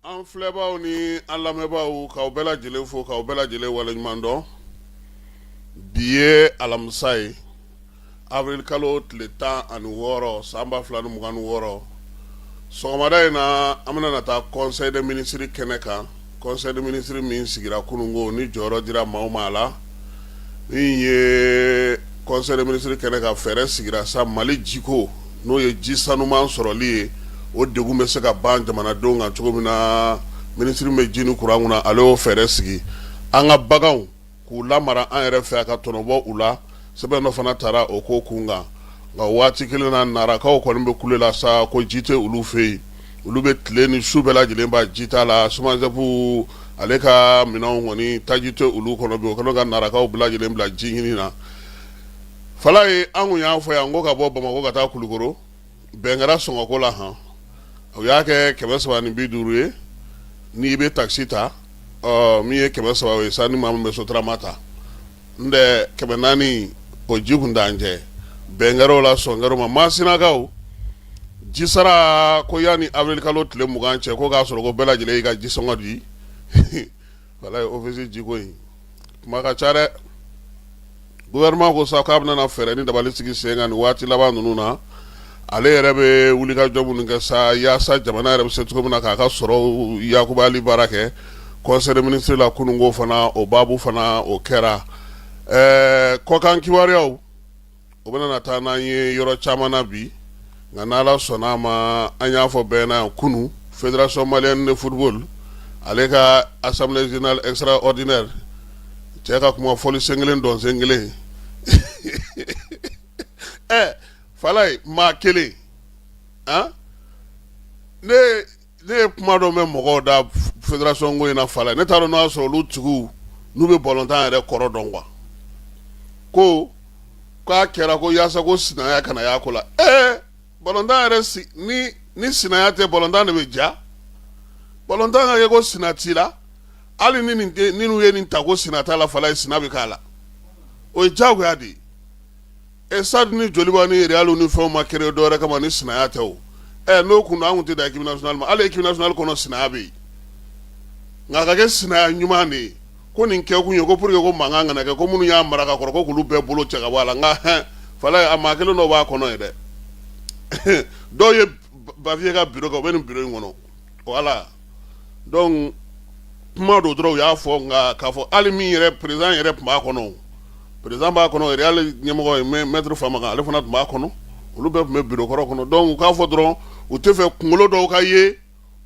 An filɛbaaw ni an lamɛnbaaw k'aw bɛɛ lajɛlen fo k'aw bɛɛ lajɛlen waleɲuman dɔn bi ye alamisa ye avril kalo tile tan ani wɔɔrɔ san ba fila ni mugan ni wɔɔrɔ sɔgɔmada in na an bɛna na taa conseil des ministres kɛnɛ kan conseil des ministres min sigira kununko ni jɔyɔrɔ dira maaw ma a la min ye conseil des ministres kɛnɛ kan fɛɛrɛ sigira sa mali jiko n'o ye ji sanuman sɔrɔli ye o degun bɛ se ka ban jamanadenw kan cogo min na minisiri bɛ ji ni kuran kunna ale y'o fɛɛrɛ sigi an ka baganw k'u la mara an yɛrɛ fɛ a ka tɔnɔbɔ u la sɛbɛn dɔ fana taara o ko kun kan nka waati kelen na narakaw kɔni bɛ kule la sa ko ji tɛ olu fɛ yen olu bɛ tile ni su bɛɛ lajɛlen ban ji ta la SOMAGEP ale ka minɛnw kɔni taji tɛ olu kɔnɔ bi o kɛlen ka narakaw bɛɛ lajɛlen bila ji ɲini na fala ye an kun y'a fɔ yan ko ka bɔ bamakɔ ka taa kulukoro bɛn kɛra sɔngɔko la han u y'a kɛ kɛmɛ saba ni bi duuru ye n'i bɛ taxi ta min ye kɛmɛ saba ye sa ni maa min bɛ soturama ta n tɛ kɛmɛ naani o ji kun dan cɛ bɛn kɛra o la sɔn kɛra o ma Masinakaw jisara ko yanni avril kalo tile mugan cɛ ko k'a sɔrɔ ko bɛɛ lajɛlen y'i ka jisɔngɔ di walayi ofisi jiko in kuma ka ca dɛ gouvernement ko sa k'a bɛna na fɛɛrɛ ni dabali sigi sen kan nin waati laban ninnu na ale yɛrɛ bɛ wulikajɔ minnu kɛ sa yaasa jamana yɛrɛ bɛ se cogo min na k'a ka sɔrɔ yakubali baara kɛ conseil des ministres la kununko fana o baabu fana o kɛra ɛɛ kɔkan kibaruyaw o bɛna na taa n'an ye yɔrɔ caman na bi nka n' ala sɔnna a ma an y'a fɔ bɛɛ na kunun fédération malienne de football ale ka assemblée générale extraordinaire cɛ ka kuma fɔli sen kelen dɔn sen kelen ɛ fala ye maa kelen an ne ne ye kuma dɔ mɛn mɔgɔw da fédération ko in na fala ye ne t'a dɔn n'o y'a sɔrɔ olu tigiw n'u bɛ balontan yɛrɛ kɔrɔ dɔn quoi ko k'a kɛra ko yaasa ko sinaya kana y'a ko la ee balontan yɛrɛ si ni ni sinaya tɛ balontan de bɛ ja balontan ka kɛ ko sina t'i la hali ni nin tɛ ni n'u ye nin ta ko sina t'a la fala ye sina bɛ k'a la o ye diyagoya de ye E sa ni joli ni yɛrɛ y' ni fɛn ma kelen dɔwɛrɛ kama ni sina tɛ o ɛ n'o kun anw tɛ da k' ma ala k' kɔnɔ sina bɛ yen nka ka kɛ sina ɲuman de ye ko nin kɛ kun ye ko pur que ko makan kana kɛ ko minnu y'a mara ka kɔrɔ k'olu bɛɛ bolo cɛ ka la n ka h fa a ma kelen dɔ b'a kɔnɔ ye dɛ dɔw ye bafiye ka bɛ nin bulon in kɔnɔ voilà donc kuma dɔ dɔrɔn u y'a fɔ nka k'a fɔ hali min yɛrɛ président yɛrɛ tun b'a kɔnɔ président b'a kɔnɔ Real ɲɛmɔgɔ ye maître Famakan ale fana tun b'a kɔnɔ olu bɛɛ tun bɛ bureau kɔrɔ kɔnɔ donc u k'a fɔ dɔrɔn u tɛ fɛ kunkolo dɔw ka ye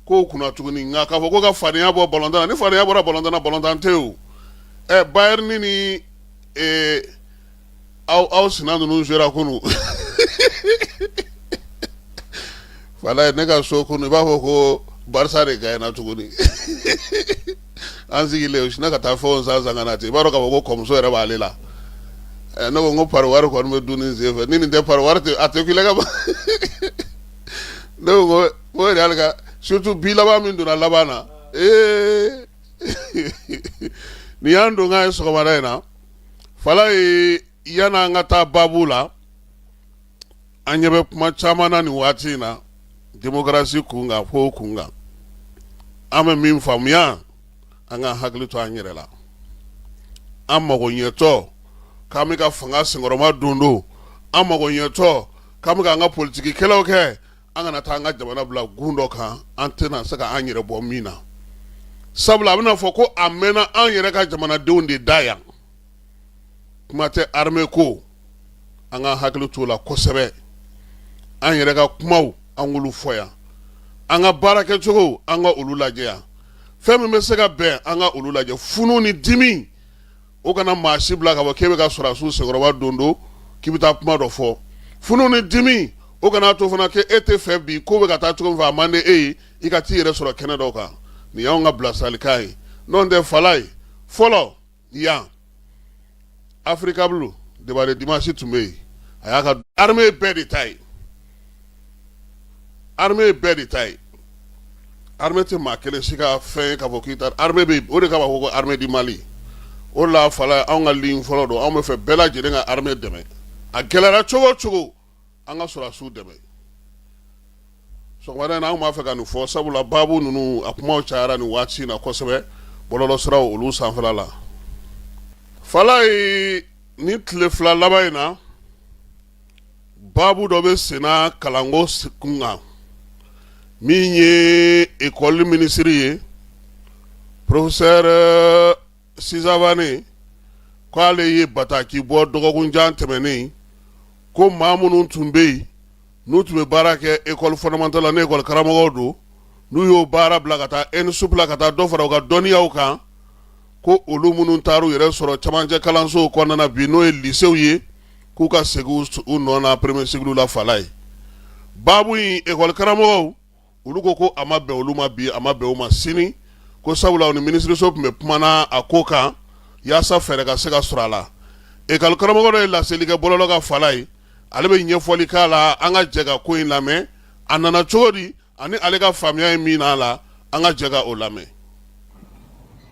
kow kunna tuguni nka k'a fɔ ko ka fadenya bɔ ballontan na ni fadenya bɔra ballontan na ballontan tɛ o ɛ Bayern ni aw aw sina ninnu jouera kunun Falaye ne ka so kunun i b'a fɔ ko Barça de gagnera tuguni an sigilen u sinna ka taa fɛnw san san ka na ten i b'a dɔn k'a fɔ ko kɔmuso yɛrɛ b'ale la Eh, ne ko n ko pari wari kɔni bɛ dun nin sen fɛ ni nin tɛ pari wari tɛ a tɛ kule ka ban ne ko n ko n ko Real ka surtout bi laban min donna laban na ee nin y'an donkan ye sɔgɔmada in na Falaye yan an ka taa baabu la an ɲɛ bɛ kuma caman na nin waati in na démocratie kun kan fo kun kan an bɛ min faamuya an ka hakili to an yɛrɛ la an mago ɲɛtɔ k'an bɛ ka fanga senkɔrɔma don don an mago ɲɛtɔ k'an bɛ k'an ka politigikɛlaw kɛ an kana taa an ka jamana bila gun dɔ kan an tɛna se ka an yɛrɛ bɔ min na sabula a bɛna fɔ ko a mɛnna an yɛrɛ ka jamanadenw de da yan kuma tɛ armée ko an ka hakili t'o la kosɛbɛ an yɛrɛ ka kumaw an k'olu fɔ yan an ka baara kɛcogo an ka olu lajɛ yan fɛn min bɛ se ka bɛn an ka olu lajɛ funu ni dimi o kana maa si bila ka bɔ k'i bɛ ka sɔrɔdasiw senkɔrɔma don don k'i bɛ taa kuma dɔ fɔ funu ni dimi o kana to fana k'e tɛ fɛ bi ko bɛ ka taa cogo min fɛ a man di e ye i ka t'i yɛrɛ sɔrɔ kɛnɛ dɔ kan nin y'anw ka bilasiralikan ye n'o tɛ Falaye fɔlɔ yan Africable débat de dimanche tun bɛ yen a y'a ka armée bɛɛ de ta ye armée bɛɛ de ta ye armée tɛ maa kelen si ka fɛn ye k'a fɔ k'i ta armée bɛ yen o de kama ko armée du Mali o la Fala anw ka ligne fɔlɔ don anw bɛ fɛ bɛɛ lajɛlen ka armée dɛmɛ a gɛlɛyara cogo o cogo an ka sɔrɔdasiw dɛmɛ sɔgɔmada in na anw b'a fɛ ka nin fɔ sabula baabu ninnu a kumaw cayara nin waati in na kosɛbɛ bɔlɔlɔsiraw olu sanfɛla la Falaye nin tile fila laban in na baabu dɔ bɛ senna kalanko kun kan min ye ekɔli minisiri ye professeur Sy Savané ko ale ye bataki bɔ dɔgɔkunjan tɛmɛnen ko maa minnu tun bɛ yen n'u tun bɛ baara kɛ ekɔli fondamentale la n'ekɔli karamɔgɔw don n'u y'o baara bila ka taa ENSUP la ka taa dɔ fara u ka dɔnniyaw kan ko olu minnu taara u yɛrɛ sɔrɔ camancɛ kalansow kɔnɔna na bi n'o ye lisew ye k'u ka segin u nɔ na premier cycle la Falayi baabu in école karamɔgɔw olu ko ko a ma bɛn olu ma bi a ma bɛn u ma sini ko sabula u ni minisiriso tun bɛ kumana a ko kan yaasa fɛɛrɛ ka se ka sɔrɔ a la école karamɔgɔ dɔ ye laseli kɛ bɔlɔlɔ kan Falayi ale bɛ ɲɛfɔli k'a la an ka jɛ ka ko in lamɛn a nana cogo di Ani ale ka faamuya ye min n'a la an ka jɛ ka o lamɛn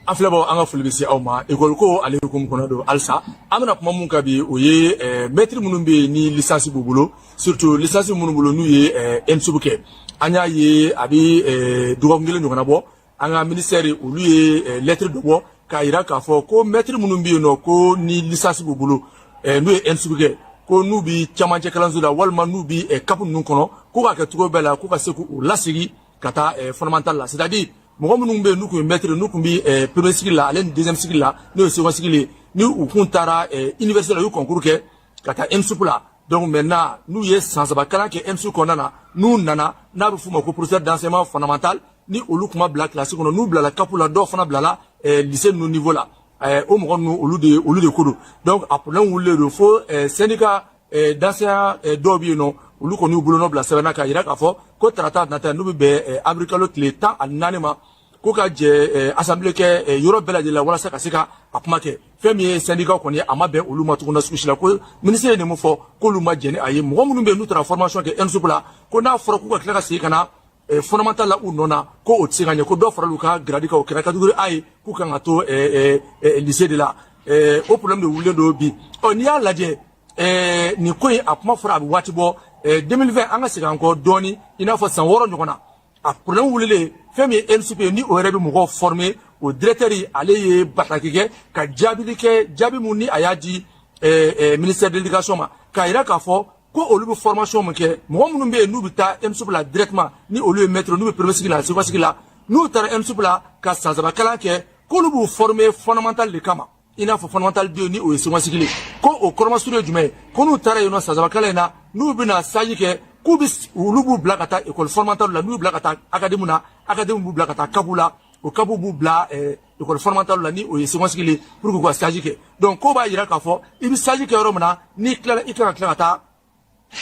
an filɛbaw an ka foli bɛ se aw ma ekɔli ko ale hukumu kɔnɔ don halisa an bɛna kuma min kan bi o ye eh, mɛtiri minnu bɛ yen ni lisansi b'u bolo surtout lisansi minnu bolo n'u ye eh, ENSUP kɛ an y'a ye a bɛ eh, dɔgɔkun kelen ɲɔgɔnna bɔ an ka minisɛri olu ye eh, lɛtiri dɔ bɔ k'a yira k'a fɔ ko mɛtiri minnu bɛ yen nɔ ko ni lisansi b'u bolo eh, n'u ye ENSUP kɛ ko n'u bi camancɛ kalanso la walima n'u bi eh, CAP ninnu kɔnɔ ko k'a kɛ cogo bɛɛ la ko ka se k'u lasegin ka taa fondamental la c'est à dire mɔgɔ minnu bɛ yen n'u tun ye mɛtiri n'u tun bi premier cycle la ale ni deuxième cycle la n'o ye second cycle ye ni u kun taara université la u ye concours kɛ ka taa ENSUP la donc maintenant n'u ye san saba kalan kɛ ENSUP kɔnɔna na n'u nana n'a bɛ f'u ma ko professeur d'enseignement fondamental ni olu kun ma bila kilasi kɔnɔ n'u bilala CAP la dɔw fana bilala eh, lise ninnu niveau la eh, o mɔgɔ ninnu olu de olu de ko don donc a problème wulilen don fo eh, syndicat eh, d'enseignants eh, dɔw bɛ yen nɔ olu kɔni y'u bolonɔ bila sɛbɛn na k'a yira k'a fɔ ko tarata nata n'o bɛ bɛn eh, avril kalo tile tan ani naani ma ko ka jɛ eh, assemblée kɛ eh, yɔrɔ bɛɛ lajɛlen la walasa ka se ka a kuma kɛ fɛn min ye syndicat kɔni ye a ma bɛn olu ma tuguni sugu si la ko ministre ye nin mun fɔ k'olu ma jɛn ni a ye mɔgɔ minnu bɛ yen n'u taara formation kɛ ENSUP la ko n'a fɔra k'u ka tila ka segin ka na eh, fondamental la u nɔ na ko o tɛ se ka ɲɛ ko dɔ farala u ka giradi kan o kɛra catégorie A ye k'u kan ka to eh, eh, lise de la o problème de wulilen don bi ɔ n'i y'a lajɛ nin ko in a kuma fɔra a bɛ waati bɔ 2020 an ka segin an kɔ dɔɔni i n'a fɔ san wɔɔrɔ ɲɔgɔn na a problème wulilen fɛn min ye ENSUP ye ni o yɛrɛ bɛ mɔgɔw former o directeur ale ye bataki kɛ ka jaabili kɛ jaabi mun ni a y'a di ministère de l'éducation ma k'a jira k'a fɔ ko olu bɛ formation min kɛ mɔgɔ minnu bɛ yen n'u bɛ taa ENSUP la directement ni olu ye maître n'u bɛ premier cycle la second cycle la n'u taara ENSUP la ka san saba kalan kɛ k'olu b'u former fondamental de kama i n'a fɔ fondamental deux ni o ye second cycle ko o kɔrɔmasuru ye jumɛn ye ko n'u taara yen nɔ san saba kalan in na n'u bɛna stage kɛ k'u bɛ olu b'u bila ka taa école fondamentale la n'u bila ka taa académie na académie b'u bila ka taa CAP la o CAP b'u bila école fondamentale la ni o ye second cycle ye pour k'u ka stage kɛ donc o b'a jira k'a fɔ i bɛ stage kɛ yɔrɔ min na n'i tilala i kan ka tila ka taa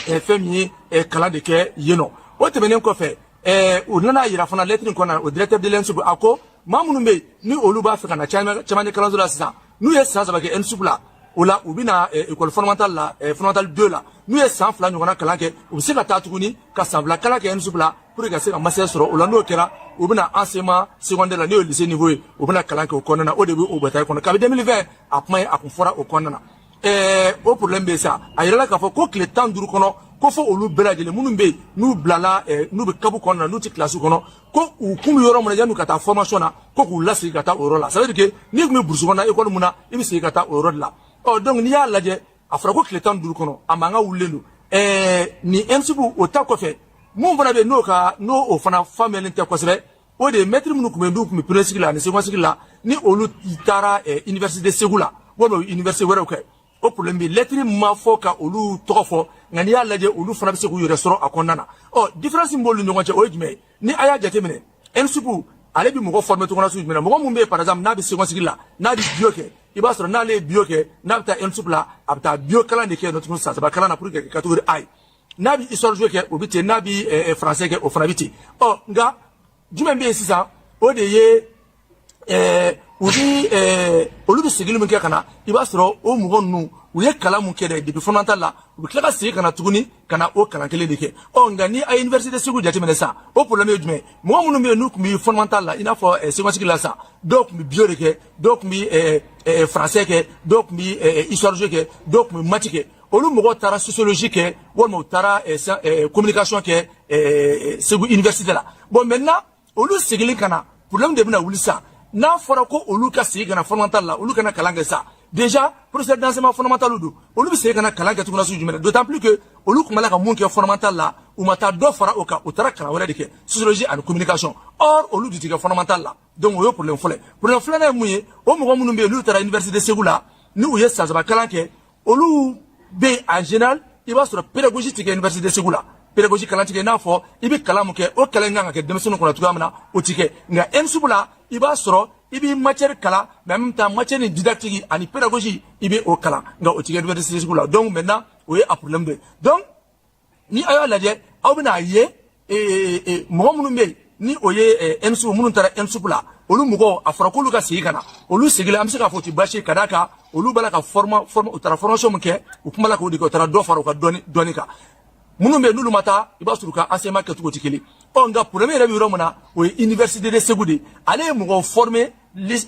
ɛɛ fɛn min ye ɛɛ kalan de kɛ yen nɔ o tɛmɛnen kɔfɛ ɛɛ u nana yira fana lɛtiri in kɔnɔna o directeur de l'ENSUP a ko maa minnu bɛ yen ni olu b'a fɛ ka na camancɛ kalanso la sisan n'u ye san saba kɛ ENSUP la o la u bɛna école fondamentale la fondamentale deux la n'u ye san fila ɲɔgɔnna kalan kɛ u bɛ se ka taa tuguni ka san fila kalan kɛ ENSUP la pour que ka se ka master sɔrɔ o la n'o kɛra u bɛna enseignement secondaire la n'o ye lycée niveau ye u bɛna kalan kɛ o kɔnɔna na o de bɛ o bataille kɔnɔ kabi deux mille vingt a kuma ye a kun fɔra o kɔnɔna na ɛɛ o problème bɛ sa a yirala k'a fɔ ko tile tan ni duuru kɔnɔ ko fo olu bɛɛ lajɛlen minnu bɛ yen n'u bilala n'u bɛ CAP kɔnɔna na n'u tɛ kilasi kɔnɔ ko u kun bɛ yɔrɔ min na yan'u ka taa formation na ko k'u lasegin ka taa o yɔrɔ la ça veut dire que n'i tun bɛ burusi kɔnɔna école mun na i bɛ segin ka taa o yɔrɔ de la ɔ donc n'i y'a lajɛ a fɔra ko tile tan ni duuru kɔnɔ a mankan wulilen don ɛɛ nin ENSUP o ta kɔfɛ mun fana bɛ yen n'o ka n'o o fana faamuyalen tɛ kosɛbɛ o de ye mɛtiri minnu tun bɛ yen n'u tun bɛ premier cycle la ani second cycle la ni olu taara ɛɛ université segu la walima université wɛrɛw kɛ o problème bɛ lɛtiri ma fɔ ka olu tɔgɔ fɔ nka n'i y'a lajɛ olu fana bɛ se k'u yɛrɛ sɔrɔ a kɔnɔna na ɔ différence min b'olu ni ɲɔgɔn cɛ o ye jumɛn ye ni a y'a jateminɛ ENSUP ale bɛ mɔgɔ former cogoya sugu jumɛn na mɔgɔ min bɛ yen par exemple n'a bɛ second cycle la n'a bɛ bio kɛ i b'a sɔrɔ n'ale ye bio kɛ n'a bɛ taa ENSUP la a bɛ taa bio kalan de kɛ yen nɔ tuguni san saba kalan na pour que catégorie A ye n'a bɛ histoire géo kɛ o bɛ ten n'a bɛ français kɛ o fana bɛ ten ɔ nka jumɛn bɛ yen sisan o de ye ɛɛ u ni ɛɛ olu bɛ seginni min kɛ ka na i b'a sɔrɔ o mɔgɔ ninnu u ye kalan mun kɛ dɛ depuis fondamental la u bɛ tila ka segin ka na tuguni ka na o kalan kelen de kɛ ɔ nka ni a ye université segu jateminɛ sisan o problème ye jumɛn ye mɔgɔ minnu bɛ yen n'u tun bɛ fondamental la i n'a fɔ ɛɛ second cycle la sisan dɔw tun bɛ bio de kɛ dɔw tun bɛ ɛɛ ɛɛ français kɛ dɔw tun bɛ ɛɛ histoire géo kɛ dɔw tun bɛ maths kɛ olu mɔgɔw taara sociologie kɛ walima u taara eh, eh, communication kɛ eh, segu université la bon maintenant olu seginni ka na problème de bɛna wuli sa n'a fɔra ko olu ka segin ka na fondamental la olu ka na kalan kɛ sa déjà professeur d'enseignement fondamental don olu bɛ segin ka na kalan kɛ tuguni sugu jumɛn d'autant plus que olu tun b'a la ka mun kɛ fondamental la u ma taa dɔ fara o kan u taara kalan wɛrɛ de kɛ sociologie ani communication or olu de tɛ kɛ fondamental la donc o ye problème fɔlɔ ye problème filanan ye mun ye o mɔgɔ minnu bɛ yen n'u taara université segu la ni u ye san saba kalan kɛ olu bɛ en général i b'a sɔrɔ pédagogie tɛ kɛ université segu la pédagogie kalan tɛ kɛ i n'a fɔ i bɛ kalan min kɛ o kalan in kan ka kɛ denmisɛnninw kɔnɔ cogoya min na o tɛ kɛ nka ENSUP la i b'a sɔrɔ i b'i matière kalan mais en même temps matière ni didactique ani pédagogie i bɛ o kalan nka o tɛ kɛ université segu la donc maintenant o ye a problème dɔ ye donc ni a y'a lajɛ aw bɛna a ye mɔgɔ minnu bɛ yen ni o ye ɛnsu minnu taara ENSUP la olu mɔgɔw a fɔra k'olu ka segin ka na olu seginna an bɛ se k'a fɔ o tɛ baasi ye ka d'a kan olu b'a la ka forma forma u taara formation min kɛ u kun b'a la k'o de kɛ u taara dɔ fara u ka dɔnni dɔnni kan minnu bɛ yen n'olu ma taa i b'a sɔrɔ u ka enseignement kɛcogo tɛ kelen ɔ nka problème yɛrɛ bɛ yɔrɔ min na o ye université de Segu de ye ale ye mɔgɔw former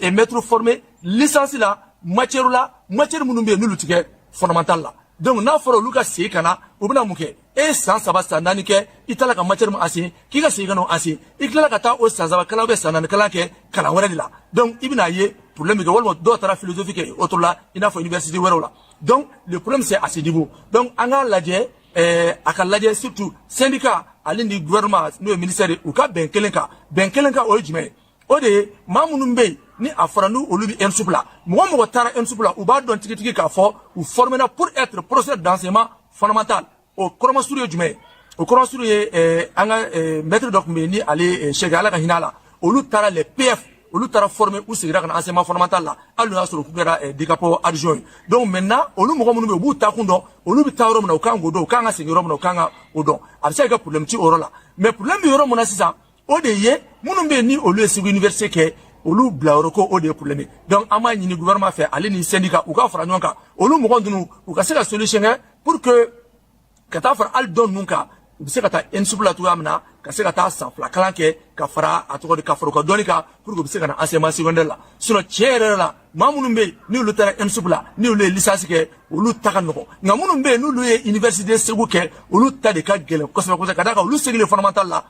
eh, maître formé licence la matière la matière minnu bɛ yen n'olu tɛ kɛ fondamental la donc n'a fɔra olu ka segin ka na u bɛna mun kɛ e ye san saba san naani kɛ i taara ka matière min enseigner k'i ka segin ka n'o enseigner i tilala ka taa o san saba kalan ou san naani kalan kɛ kalan wɛrɛ de la donc i bɛna ye problème bɛ kɛ walima dɔw taara philosophie kɛ autre la i n'a fɔ université wɛrɛw la donc le problème c'est à ce niveau donc an k'a lajɛ eh, a ka lajɛ surtout syndicat ale ni gouvernement n'o ye ministère ye u ka bɛn kelen kan bɛn kelen kan o ye jumɛn ye o de ye maa minnu bɛ yen ni a fɔra n'u olu bɛ ENSUP la mɔgɔ mɔgɔ taara ENSUP la u b'a dɔn tigitigi k'a fɔ u formera pour être professeur d'enseignement fondamental o kɔrɔmasuru ye jumɛn ye o kɔrɔmasuru ye eh, an ka eh, maître dɔ tun bɛ yen ni ale eh, Cheikh ala ka hinɛ a la olu taara les PF olu taara former u segira ka na enseignement fondamental la hali n'o y'a sɔrɔ k'u kɛra eh, DCAP adjoint ye donc maintenant olu mɔgɔ minnu bɛ yen u b'u taakun dɔn olu bɛ taa yɔrɔ min na u kan k'o dɔn u kan ka segin yɔrɔ min na u kan ka o dɔn a bɛ se ka kɛ problème ti o yɔrɔ la mais problème bɛ yɔrɔ min na sisan o de ye minnu bɛ yen ni olu ye segu université kɛ olu bila yɔrɔ ko o de ye problème ye donc an b'a ɲini gouvernement fɛ ale ni syndicat u ka fara ɲɔgɔn kan olu mɔgɔ ninnu u ka se ka solution kɛ pour que ka taa fara hali dɔ ninnu kan u bɛ se ka taa ENSUP la cogoya min na ka se ka taa san fila kalan kɛ ka fara a tɔgɔ di ka fara u ka dɔnni kan pour que u bɛ se ka na enseignement secondaire la sinon tiɲɛ yɛrɛ la maa minnu bɛ yen n'olu taara ENSUP la n'olu ye licence kɛ olu ta ka nɔgɔn nka minnu bɛ yen n'olu ye université segu kɛ olu ta de ka gɛlɛn kosɛbɛ kosɛbɛ ka d'a kan olu segilen fondamental la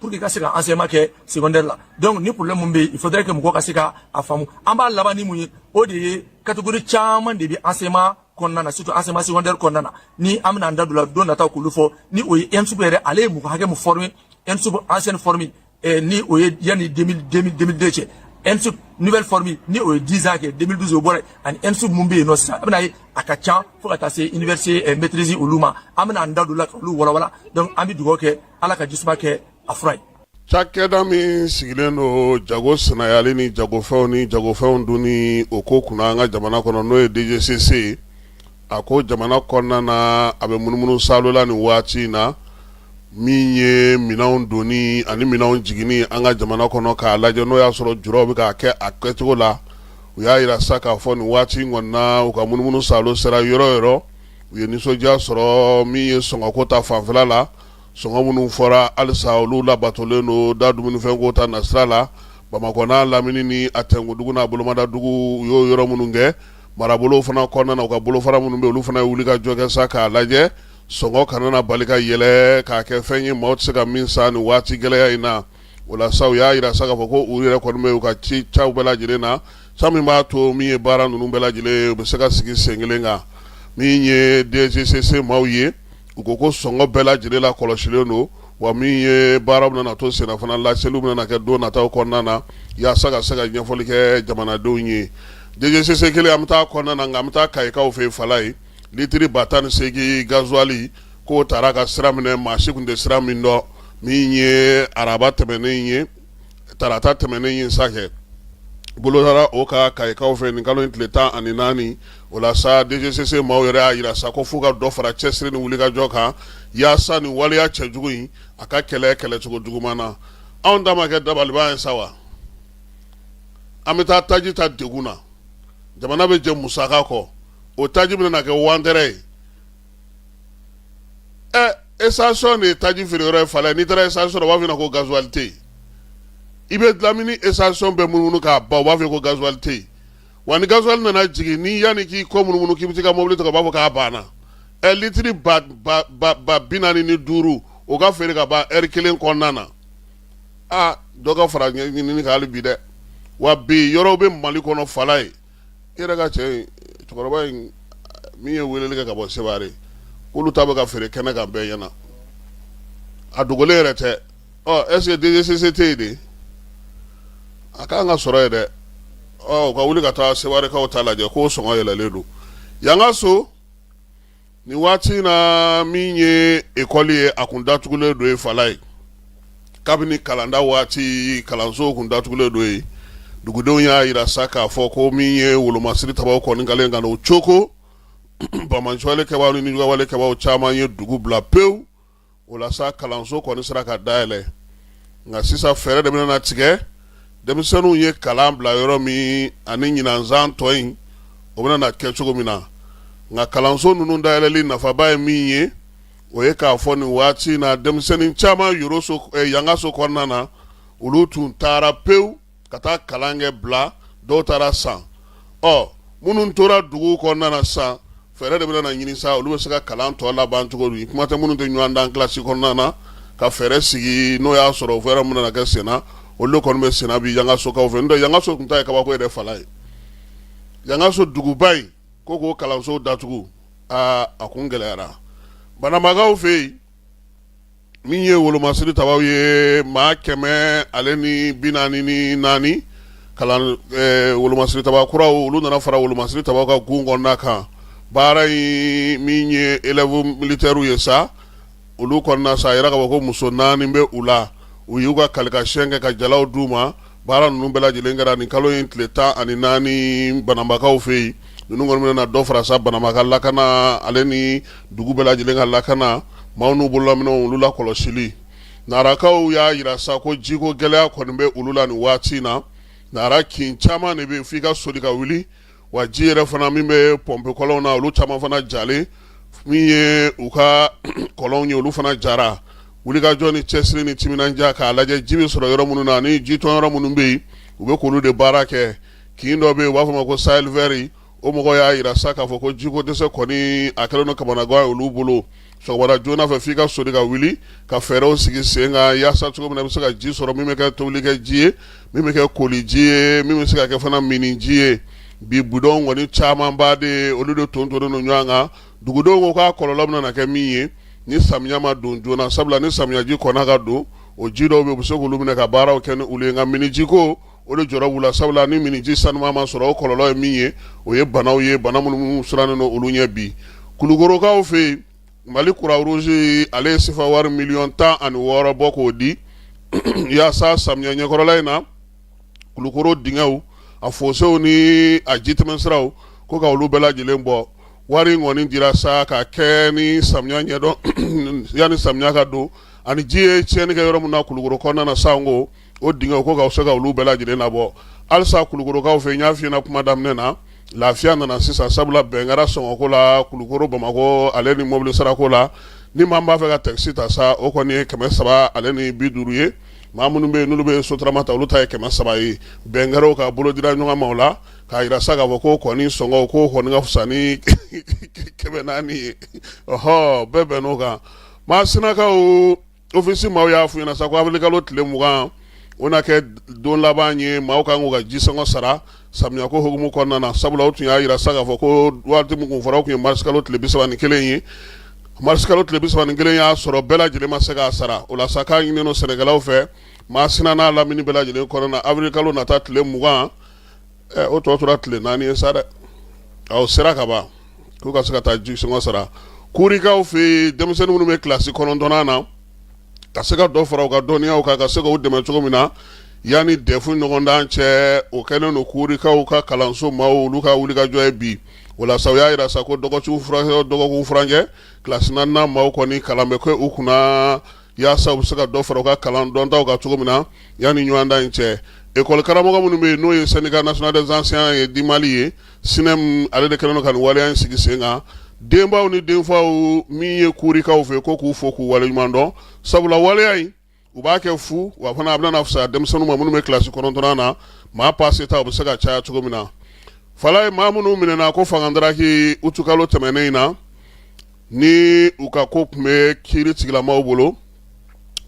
pour que i ka se ka enseignement kɛ secondaire la donc ni problème min bɛ yen il faudrait que mɔgɔ ka se ka a faamu an b'a laban ni mun ye o de ye catégorie caman de bɛ enseignement kɔnɔna na surtout enseignement secondaire kɔnɔna na ni an bɛna an da don la don nataw k'olu fɔ ni o ye ENSUP yɛrɛ ale ye mɔgɔ hakɛ min former ENSUP ancienne formule eh, ni o ye yanni 2000 2002 cɛ ENSUP nouvelle formule ni o ye 10 ans kɛ 2012 o bɔra yen ani ENSUP min bɛ yen nɔ sisan a bɛna ye a ka ca fo ka taa se université eh, maîtrise olu ma an bɛna an da don la k'olu walawala donc an bɛ dugawu kɛ ala ka jisuma kɛ a fura ye cakɛda min sigilen don jago saniyali ni jagofɛnw ni jagofɛnw donni o ko kunna an ka jamana kɔnɔ n'o ye DGCC ye a ko jamana kɔnɔna na a bɛ munumunu salola nin waati in na min ye minɛnw donni ani minɛnw jiginni an ka jamana kɔnɔ k'a lajɛ n'o y'a sɔrɔ juraw bɛ k'a kɛ a kɛcogo la u y'a yira sa k'a fɔ nin waati in kɔnɔna na u ka munumunu salo sera yɔrɔ yɔrɔ u ye nisɔndiya sɔrɔ min ye sɔngɔko ta fanfɛla la sɔngɔ minnu fɔra halisa olu labatolen don da dumunifɛnko ta nasira la bamakɔ n'a lamini ni a tɛnkudugu n'a bolomadadugu u y'o yɔrɔ minnu kɛ marabolo fana kɔnɔna na u ka bolofara minnu bɛ olu fana ye wulikajɔ kɛ sa k'a lajɛ sɔngɔ kana na bali ka yɛlɛ k'a kɛ fɛn ye maaw tɛ se ka min san nin waati gɛlɛya in na o la sa u y'a yira sa k'a fɔ ko u yɛrɛ kɔni bɛ u ka ci caw bɛɛ lajɛlen na sa min b'a to min ye baara ninnu bɛɛ lajɛlen u bɛ se ka sigi sen kelen kan min ye DGCC maaw ye u ko ko sɔngɔ bɛɛ lajɛlen la kɔlɔsilen don wa min ye baaraw bɛna to senna fana laseliw bɛna kɛ don nataw kɔnɔna na yaasa ka se ka ɲɛfɔli kɛ jamanadenw ye DGCC kelen an bɛ taa kɔnɔna na nka an bɛ taa Kayikaw fɛ Falayi litiri ba tan ni segin gazuwali k'o taara ka sira minɛ maa si tun tɛ sira min dɔn min ye araba tɛmɛnen ye tarata tɛmɛnen ye sa kɛ bolo dara o kan Kayikaw fɛ nin kalo in tile tan ani naani o la sa DGCC maaw yɛrɛ y'a yira sa ko f'u ka dɔ fara cɛsiri ni wulikajɔ kan yaasa nin waleya cɛjugu in a ka kɛlɛ kɛlɛcogo juguman na anw ta ma kɛ dabaliban ye sa wa an bɛ taa taji ta degun na jamana bɛɛjɛ musaka kɔ o taji bɛna kɛ wantɛrɛ ye ɛ estasiyɔn de ye taji feere yɔrɔ ye Falayi n'i taara estasiyɔn rɔ u b'a f'i ɲɛna ko gazuali tɛ yen i bɛ lamini estasiyɔn bɛɛ munumunu k'a ban u b'a fɔ ko gazuali tɛ yen wa ni gazuali nana jigin ni yanni k'i kɔ munumunu k'i bɛ se ka mobili ta u b'a fɔ k'a banna ɛ litiri ba bi naani ni duuru o ka feere ka ban lɛri kelen kɔnɔna na aa dɔ ka fara ɲinini kan hali bi dɛ wa bi yɔrɔ bɛ mali kɔnɔ Falayi i yɛrɛ ka cɛ in cɛkɔrɔba in min ye weleli kɛ ka bɔ Seware k'olu ta bɛ ka feere kɛnɛ kan bɛɛ ɲɛna a dogolen yɛrɛ tɛ ɔ est ce que DGCC tɛ yen de a ka kan ka sɔrɔ yen dɛ ɔ u ka wuli ka taa Sewarekaw ta lajɛ k'o sɔngɔ yɛlɛlen don Yangaso Nin waati in na min ye ekɔli ye a kun datugulen don yen Falayi kabini kalanda waati kalanso kun datugulen don yen dugudenw y'a yira sa k'a fɔ ko min ye wolomasiri tabaw kɔni kɛlen ka na o cogo banbaanci wale kɛbaaw ni nijuguya wale kɛbaaw caman ye dugu bila pewu o la sa kalanso kɔni sera ka dayɛlɛ nka sisan fɛɛrɛ de bɛna tigɛ denmisɛnninw ye kalan bila yɔrɔ min ani ɲinanzan tɔ in o bɛna kɛ cogo min na nka kalanso ninnu dayɛlɛli nafaba ye min ye o ye k'a fɔ nin waati in na denmisɛnnin caman yoroso eh, yangaso kɔnɔna na olu tun taara pewu ka taa kalan kɛ bila dɔw taara san ɔ minnu tora dugu kɔnɔna na sisan fɛɛrɛ de bɛna ɲini sa olu bɛ se ka kalan tɔ laban cogo di kuma tɛ minnu tɛ ɲɔgɔn dan kilasi kɔnɔna na ka fɛɛrɛ sigi n'o y'a sɔrɔ fɛɛrɛ minnu na kɛ senna olu kɔni bɛ senna bi yangasokaw fɛ n'o tɛ yangaso tun ta ye kabako yɛrɛ Falayi yangaso duguba in ko k'o kalanso datugu aa a kun gɛlɛyara banabagaw fɛ yen min ye wolomasiri tabaw ye maa kɛmɛ ale ni bi naani ni naani kalan wolomasiri taba kuraw olu nana fara wolomasiri tabaw ka gun kɔnɔna kan baara in min ye elɛvu militɛrw ye sa olu kɔnɔna sa a yira k'a fɔ ko muso naani bɛ u la u y'u ka kalikasiyɛn kɛ ka jalaw d'u ma Baara ninnu bɛɛ lajɛlen kɛra nin kalo in tile tan ani naani banabagaw fɛ yen ninnu kɔni bɛna na dɔ fara sa banabaga lakana ale ni dugu bɛɛ lajɛlen ka lakana maaw n'u bololaminɛw olu la kɔlɔsili narakaw y'a jira sa ko jiko gɛlɛya kɔni bɛ olu la nin waati in na nara kin caman de bɛ yen f'i ka soli ka wuli wa ji yɛrɛ fana min bɛ pɔnpe kɔlɔnw na olu caman fana jalen min ye u ka kɔlɔn ye olu fana jara wulikajɔ ni cɛsiri ni timinandiya k'a lajɛ ji bɛ sɔrɔ yɔrɔ minnu na ni jitɔn yɔrɔ minnu bɛ yen u bɛ k'olu de baara kɛ kin dɔ bɛ yen u b'a fɔ ma ko Sahel vert o mɔgɔ y'a jira sa k'a fɔ ko jiko dɛsɛ kɔni a kɛlen don kamanagan ye olu bolo joona fɛ f'i ka soli ka wuli ka fɛɛrɛw sigi sen kan yaasa cogo min na i bɛ se ka ji sɔrɔ min bɛ kɛ tobili kɛ ji ye min bɛ kɛ koli ji ye min bɛ se ka kɛ fana mini ji ye bi budɔnw kɔni camanba de ye olu de tontonnen don ɲɔgɔn kan dugudenw ko k'a kɔlɔlɔ bɛna kɛ min ye ni samiya ma don joona sabula ni samiyaji kɔnna ka don o ji dɔw bɛ u bɛ se k'olu minɛ ka baaraw kɛ ni olu ye nka minijiko o de jɔrɔ b'u la sabula ni miniji sanuman ma sɔrɔ o kɔlɔlɔ ye min ye o ye banaw ye bana minnu sirannen don olu ɲɛ bi kulukorokaw fɛ yen mali Croix Rouge ale ye sefa wari miliyɔn tan ani wɔɔrɔ bɔ k'o di yaasa samiya ɲɛkɔrɔla in na kulukoro dingɛw a fosew ni a ji tɛmɛn siraw ko ka olu bɛɛ lajɛlen bɔ wari in kɔni dira sa ka kɛ ni samiya ɲɛdɔn yanni samiya ka don ani ji ye tiɲɛni kɛ yɔrɔ min na kulukoro kɔnɔna na sanko O dingɛw ko ka se ka olu bɛɛ lajɛlen labɔ halisa kulukorokaw fɛ n y'a f'i ɲɛna kuma daminɛ na lafiya nana sisan sabula bɛn kɛra sɔngɔko la kulukoro bamakɔ ale ni mɔbili sarako la ni maa b'a fɛ ka takisi ta sa o kɔni ye kɛmɛ saba ale ni bi duuru ye maa minnu bɛ yen n'olu bɛ sotarama ta olu ta ye kɛmɛ saba ye bɛn kɛra ka bolo dira ɲɔgɔn ma o la k'a jira sa k'a fɔ ko kɔni sɔngɔ ko ka fisa ni kɛmɛ naani ye ɔ bɛɛ bɛnn'o kan masinakaw ofisi maaw y'a f'u ɲɛna sa ko awirili kalo tile mugan o na kɛ don laban ye maaw kan k'u ka jisɔngɔ sara samiya ko hukumu kɔnɔna na sabula u tun y'a jira sa k'a fɔ ko waati min tun fɔra tun ye marisi kalo tile bisaba ni kelen ye marisi kalo tile bisaba ni kelen y'a sɔrɔ bɛɛ lajɛlen ma se k'a sara o la sa k'a ɲininen don sɛnɛkɛlaw fɛ masina n'a lamini bɛɛ lajɛlen kɔnɔna na awirili kalo nata tile mugan ɛ o tɔ tora tile naani ye sa dɛ o sera ka ban k'u ka se ka taa jisɔngɔ sara kurikaw fɛ yen denmisɛnnin minnu bɛ kilasi kɔnɔntɔnnan na ka se ka dɔ fara u ka dɔnniyaw kan ka se k'u dɛmɛ cogo min na yanni dɛfu ɲɔgɔndan cɛ o kɛlen don kurikaw ka kalanso maaw olu ka wulikajɔ ye bi o la sa u y'a jira sa ko dɔgɔkun furancɛ kilasi naaninan maaw kɔni kalan bɛ kɛ u kunna walasasa u bɛ se ka dɔ fara u ka kalan dɔntaw kan cogo min na yanni ɲɔgɔndan in cɛ ekɔli karamɔgɔw minnu bɛ yen n'o ye syndicat national des enseignants du mali ye synem ale de kɛlen don ka waleya in sigi sen kan denbaw ni denfaw min ye kurikaw fɛ ko k'u fo k'u wale ɲuman dɔn sabula waleya in u b'a kɛ fu wa fana a bɛna fisaya denmisɛnninw ma minnu bɛ kilasi kɔnɔntɔnnan na maa paseta u bɛ se ka caya cogo min na falaye maa minnu minɛna ko fangadaraki utukalo tɛmɛnen in na ni u ka ko tun bɛ kiri tigilamaw bolo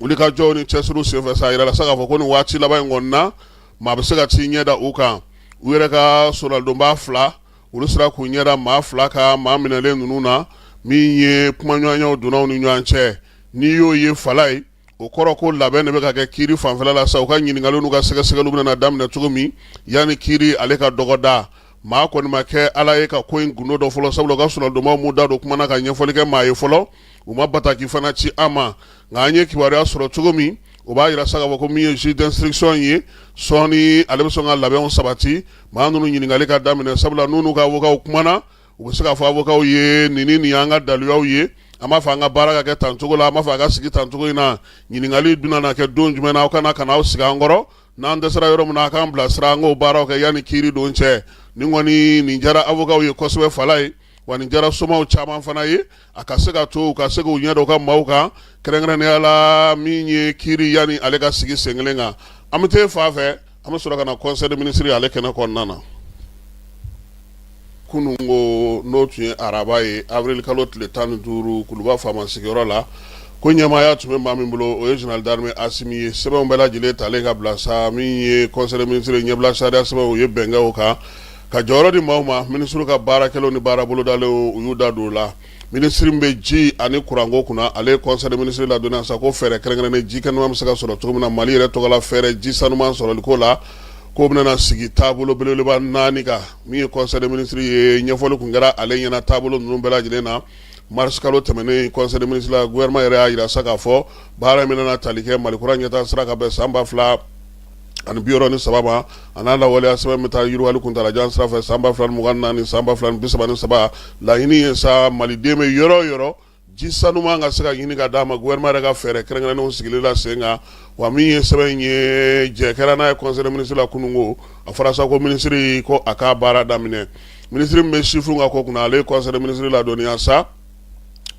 wulikajɔw ni cɛsiriw senfɛ sa a yirala sa k'a fɔ ko nin waati laban in kɔnɔna na maa bɛ se ka t'i ɲɛda u kan u yɛrɛ ka soronadonba fila olu sera k'u ɲɛda maa fila kan maa minɛlen ninnu na min ye kumaɲɔgɔnyaw donna u ni ɲɔgɔn cɛ n'i y'o ye falaye o kɔrɔ ko labɛn de bɛ ka kɛ kiri fanfɛla la sa u ka ɲininkaliw n'u ka sɛgɛsɛgɛliw bɛna daminɛ cogo min yanni kiri ale ka dɔgɔda maa kɔni ma kɛ ala ye ka ko in gundo dɔn fɔlɔ sabula u ka soronadonbaw m'u da don kuma na ka ɲɛfɔli kɛ maa ye fɔlɔ u ma bataki fana ci an ma nka an ye kibaruya sɔrɔ cogo min o b'a yira sa k'a fɔ ko min ye juge d'instruction ye sɔɔni ale bɛ sɔn ka labɛnw sabati maa ninnu ɲininkali ka daminɛ sabula n'u n'u ka avocat kumana u bɛ se k'a fɔ avocatw ye nin nin y'an ka daluyaw ye an b'a fɛ an ka baara ka kɛ tan cogo la an b'a fɛ a ka sigi tan cogo in na ɲininkali bɛna na kɛ don jumɛn na aw ka na ka na aw sigi an kɔrɔ n'an dɛsɛra yɔrɔ min na a k'an bilasira an k'o baaraw kɛ yanni kiiri don cɛ nin kɔni nin jara avocatw ye kosɛbɛ falaye wa nin jara somaw caman fana ye a ka se ka to u ka se k'u ɲɛda u ka maaw kan kɛrɛnkɛrɛnnenya la min ye kiri yanni ale ka sigi sen kelen kan an bɛ taa fan fɛ an bɛ sɔrɔ ka na conseil des ministres ale kɛnɛ kɔnɔna na kunun ko n'o tun ye araba ye avril kalo tile tan ni duuru kuluba faama sigiyɔrɔ la ko ɲɛmaaya tun bɛ maa min bolo o ye général d'armée asimi ye sɛbɛnw bɛɛ lajɛlen talen ka bila sa min ye conseil des ministres ɲɛbila sariya sɛbɛnw u ye bɛn kɛ o kan ka jɔyɔrɔ di maaw ma minisiri ka baarakɛlaw ni baara bolodalenw u y'u da don o la minisiri min bɛ ji ani kuranko kunna ale ye conseil des ministres ladɔnniya sa ko fɛɛrɛ kɛrɛnkɛrɛnnen ji kɛnɛma bɛ se ka sɔrɔ cogo min na mali yɛrɛ tɔgɔla fɛɛrɛ ji sanuman sɔrɔliko la k'o bɛna sigi taabolo belebeleba naani kan min ye conseil des ministres ye ɲɛfɔli tun kɛra ale ɲɛna taabolo ninnu bɛɛ lajɛlen na marisikalo tɛmɛnen conseil des ministres la gouvernement yɛrɛ y'a yira sa k'a fɔ baara min bɛna tali kɛ mali kura ɲɛtaa sira ka bɛn san ba fila ani biwɔɔrɔ ni saba ma a n'a lawaleya sɛbɛn bɛ taa yiriwali kuntaalajan sira fɛ san ba fila mugan ni naani san ba fila bisaba ni saba laɲini ye sa maliden bɛ yɔrɔ o yɔrɔ ji sanuman ka se ka ɲini ka d'a ma gouvernement yɛrɛ ka fɛɛrɛ kɛrɛnkɛrɛnnenw sigilen la sen kan wa min ye sɛbɛn in ye jɛ kɛra n'a ye conseil des ministres la kunun ko a fɔra sa ko minisiri ko a k'a ka baara daminɛ minisiri min bɛ sifinw ka ko kunna ale ye conseil des ministres ladɔnniya sa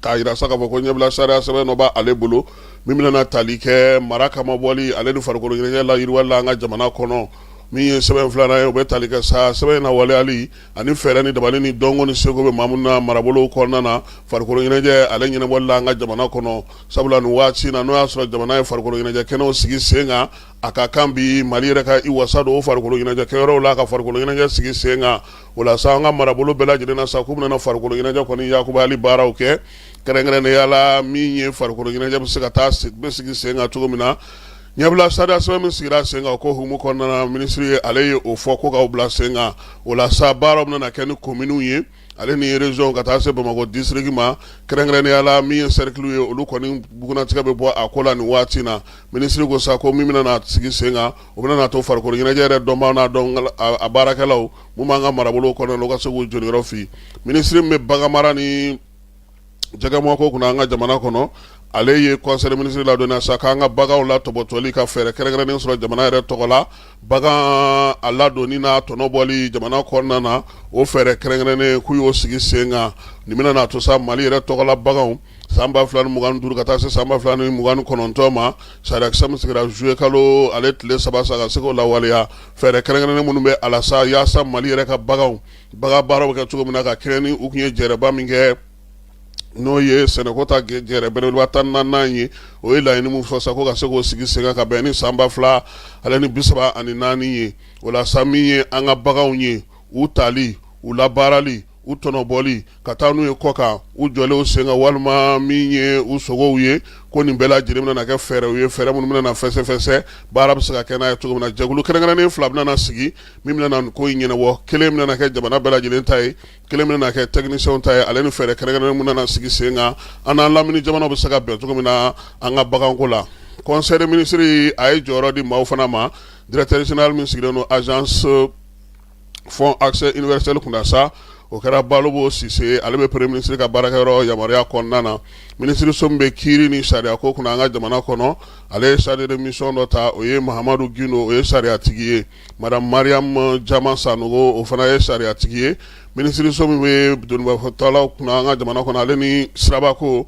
k'a yira sa k'a fɔ ko ɲɛbila sariya sɛbɛn dɔ b'ale bolo min bɛna na tali kɛ mara kama bɔli ale ni farikolo ɲɛnajɛ layiriwali la an ka jamana kɔnɔ min ye sɛbɛn filanan ye o bɛ tali kɛ sa sɛbɛn in na waleyali ani fɛɛrɛ ni dabali ni dɔnko ni seko bɛ maa minnu na marabolo kɔnɔna na farikolo ɲɛnajɛ ale ɲɛnabɔli la an ka jamana kɔnɔ sabula nin waati in na n'o y'a sɔrɔ jamana ye farikolo ɲɛnajɛ kɛnɛw sigi sen kan a ka kan bi mali yɛrɛ ka i wasa don o farikolo ɲɛnajɛ kɛyɔrɔw la ka farikolo ɲɛnajɛ sigi sen kan o la sa an ka marabolo bɛɛ lajɛlen na sa k'u bɛna na farikolo ɲɛnajɛ kɔni yakubayali baaraw kɛ kɛrɛnkɛrɛnnenya la min ye farikolo ɲɛnajɛ bɛ se ka taa bɛ sigi sen kan cogo min na ɲɛbila sariya sɛbɛn min sigira sen kan o ko hukumu kɔnɔna na minisiri ye ale ye o fɔ ko k'aw bila sen kan o la sa baaraw bɛna kɛ ni kominiw ye ale ni région ka taa se bamakɔ disiriki ma kɛrɛnkɛrɛnnenya la min ye sɛrikili ye olu kɔni bugunnatigɛ bɛ bɔ a ko la nin waati na minisiri ko sa ko min bɛna sigi sen kan o bɛna na to farikolo ɲɛnajɛ yɛrɛ dɔnbaaw n'a baarakɛlaw minnu b'an ka marabolo kɔnɔna na u ka se k'u jeniyɔrɔ fin minisiri min bɛ bagan mara ni jɛgɛmɔnko kunna an ka jamana kɔnɔ ale ye conseil des ministres ladɔnniya sa k'an ka baganw latɔbɔtɔli ka fɛɛrɛ kɛrɛnkɛrɛnnen sɔrɔ jamana yɛrɛ tɔgɔ la bagan a ladonni n'a tɔnɔbɔli jamana kɔnɔna na o fɛɛrɛ kɛrɛnkɛrɛnnen k'u y'o sigi sen kan nin bɛna na to sa mali yɛrɛ tɔgɔla baganw San ba fila ni mugan ni duuru ka taa se san ba fila ni mugan ni kɔnɔntɔn ma sariyakisɛ min sigira zuye kalo ale tile saba sa ka se k'o lawaleya fɛɛrɛ kɛrɛnkɛrɛnnen minnu bɛ a la sa yaasa mali yɛrɛ ka baganw bagan baaraw bɛ kɛ cogo min na ka kɛɲɛ ni u tun ye jɛrɛba min kɛ n'o ye sɛnɛko ta jɛrɛ belebeleba tan ni naani ye o ye laɲini min fɔ sa ko ka se k'o sigi sen kan ka bɛn ni san ba fila ale ni bisaba ani naani ye o la sa min ye an ka baganw ye u tali u labaarali u tɔnɔbɔli ka taa n'u ye kɔ kan u jɔlen sen kan walima min ye u sogow ye ko nin bɛɛ lajɛlen bɛna kɛ fɛɛrɛw ye fɛɛrɛ minnu bɛna na fɛsɛfɛsɛ baara bɛ se ka kɛ n'a ye cogo min na jɛkulu kɛrɛnkɛrɛnnen fila bɛna na sigi min bɛna nin ko in ɲɛnabɔ kelen bɛna kɛ jamana bɛɛ lajɛlen ta ye kelen bɛna kɛ technicienw ta ye ale ni fɛɛrɛ kɛrɛnkɛrɛnnen bɛna na sigi sen kan an n'an lamini jamanaw bɛ se ka bɛn cogo min na an ka baganko la conseil des ministres a ye jɔyɔrɔ di maaw fana ma directeur général min sigilen don agence fonds accès universel kunna sa o kɛra balobo sise ale bɛ premier ministre ka baarakɛyɔrɔ yamaruya kɔnɔna na minisiriso min bɛ kiiri ni sariya ko kunna an ka jamana kɔnɔ ale ye chargé de mission dɔ ta o ye mahamadu gindo o ye sariyatigi ye madame mariam jama sanogo o fana ye sariyatigi ye minisiriso min bɛ donbatɔlaw kunna an ka jamana kɔnɔ ale ni sirabako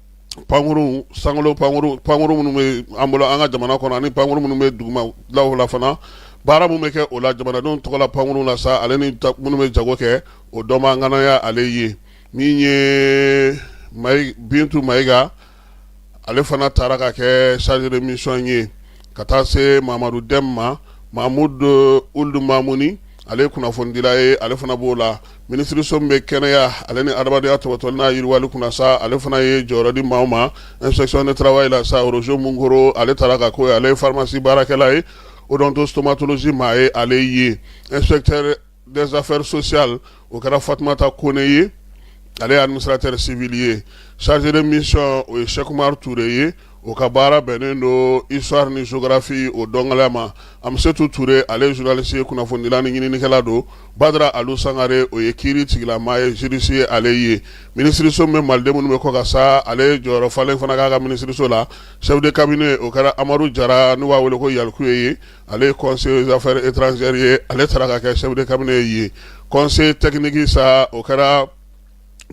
pankurun sankolo pankurun pankurun minnu bɛ an bolo an ka jamana kɔnɔ ani pankurun minnu bɛ dugumalaw la fana baara minnu bɛ kɛ o la jamanadenw tɔgɔla pankurun la sa ale ni minnu bɛ jago kɛ o dɔnbaa ŋana ye ale ye min ye bintu mayiga ale fana taara ka kɛ chargé de mission ye ka taa se mamadu dɛm ma mahamudu uld mamuni ale ye kunnafonidila ye ale fana b'o la minisiriso min bɛ kɛnɛya ale ni adamadenyaya topotoli n'a yiriwali kunna sa ale fana ye jɔyɔrɔ di maaw ma inspection de travail la sa roger munkoro ale taara ka ko ale ye faramasi baarakɛla ye odontostomatologie maa ye ale ye inspecteur Des affaires sociales o kɛra fatumata kɔnɛ ye ale ye administrateur civil ye chargé de mission o ye sɛku umaru ture ye o ka baara bɛnnen don histoire ni géographie o dɔnko ma amsetu ture ale ye journaliste ye kunnafonidila ni ɲininikɛla don badara ali sangare o ye kiiri tigɛla maa ye juriste ye ale ye minisiriso min bɛ maliden minnu bɛ kɔkan sa ale ye jɔyɔrɔ falen fana k'a ka minisiriso la chef de cabinet o kɛra amadu jara n'u b'a wele ko yalkuye ye ale ye conseiller des affaires étrangères ye ale taara ka kɛ chef de cabinet ye conseiller technique sa o kɛra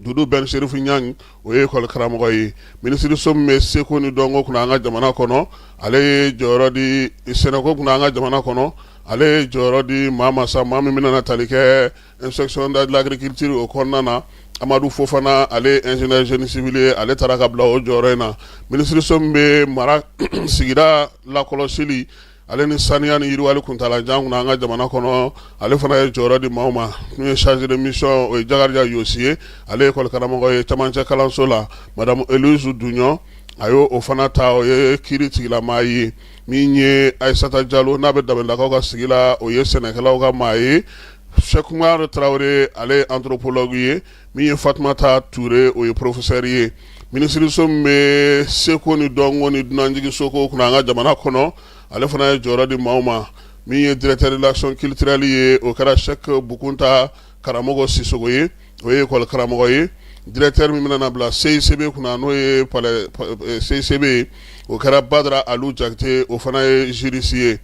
dudu bɛn serifu ɲang o ye école karamɔgɔ ye minisiriso min bɛ seko ni dɔnko kunna an ka jamana kɔnɔ ale ye jɔyɔrɔ di sɛnɛko kunna an ka jamana kɔnɔ ale ye jɔyɔrɔ di maa ma sa maa min bɛna na tali kɛ Inspection de l'agriculture o kɔnɔna na Amadu Fofana ale ye ingénieur génie civil ye ale taara ka bila o jɔyɔrɔ in na minisiriso min bɛ mara sigida lakɔlɔsili ale ni saniya ni yiriwali kuntaala jan kunna an ka jamana kɔnɔ ale fana ye jɔyɔrɔ di maaw ma n'u ye chargé de mission o ye Jakarija Yosi ye ale ye école karamɔgɔ ye camancɛ kalanso la madame Elise Duɲɔn a y'o fana ta o ye kiiri tigɛla maa ye min ye Ayisata Jalo n'a bɛ dabadakaw ka sigi la o ye sɛnɛkɛlaw ka maa ye Sɛku umaru tarawele ale ye anthropologue ye min ye fatumata ture o ye professeur ye minisiriso min bɛ seko ni dɔnko ni dunanjiginsoko kunna an ka jamana kɔnɔ ale fana ye jɔyɔrɔ di maaw ma min ye directeur de l'action culturelle ye o kɛra sɛku bukunta karamɔgɔ sisoko ye o ye école karamɔgɔ ye directeur min bɛna bila CICB kunna n'o ye CICB ye o kɛra badara alu jakite o fana ye juriste ye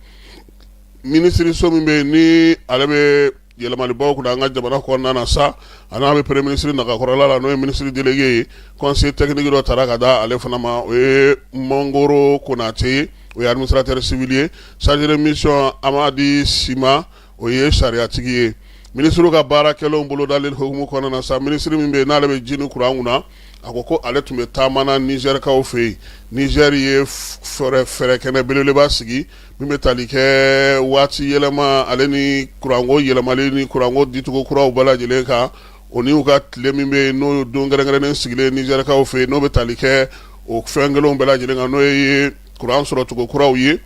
minisiriso min bɛ ni ale bɛ yɛlɛmalibaw kunna an ka jamana kɔnɔna sa a n'a bɛ premier ministre nagakɔrɔla la n'o ye ministre délégué ye conseiller technique dɔ taara ka da ale fana ma o ye mangoro konatɛ ye o ye administrateur civil ye chargé de mission amadi sima o ye sariyatigi ye minisiriw ka baara kɛlenw bolodalen hukumu kɔnɔna sa minisiri min bɛ n'ale bɛ ji ni kuran kunna a ko ko ale tun bɛ taama na nizɛrikaw fɛ yen nizɛri ye fɛɛrɛ kɛnɛ belebeleba sigi Min bɛ tali kɛ waati yɛlɛma ale ni kuranko yɛlɛmali ni kuranko dicogo kuraw bɛɛ lajɛlen kan o n'u ka tile min bɛ yen n'o don kɛrɛnkɛrɛnnen sigilen nizɛrikaw fɛ yen n'o bɛ tali kɛ o fɛn kelenw bɛɛ lajɛlen kan n'o ye kuran sɔrɔcogo kuraw ye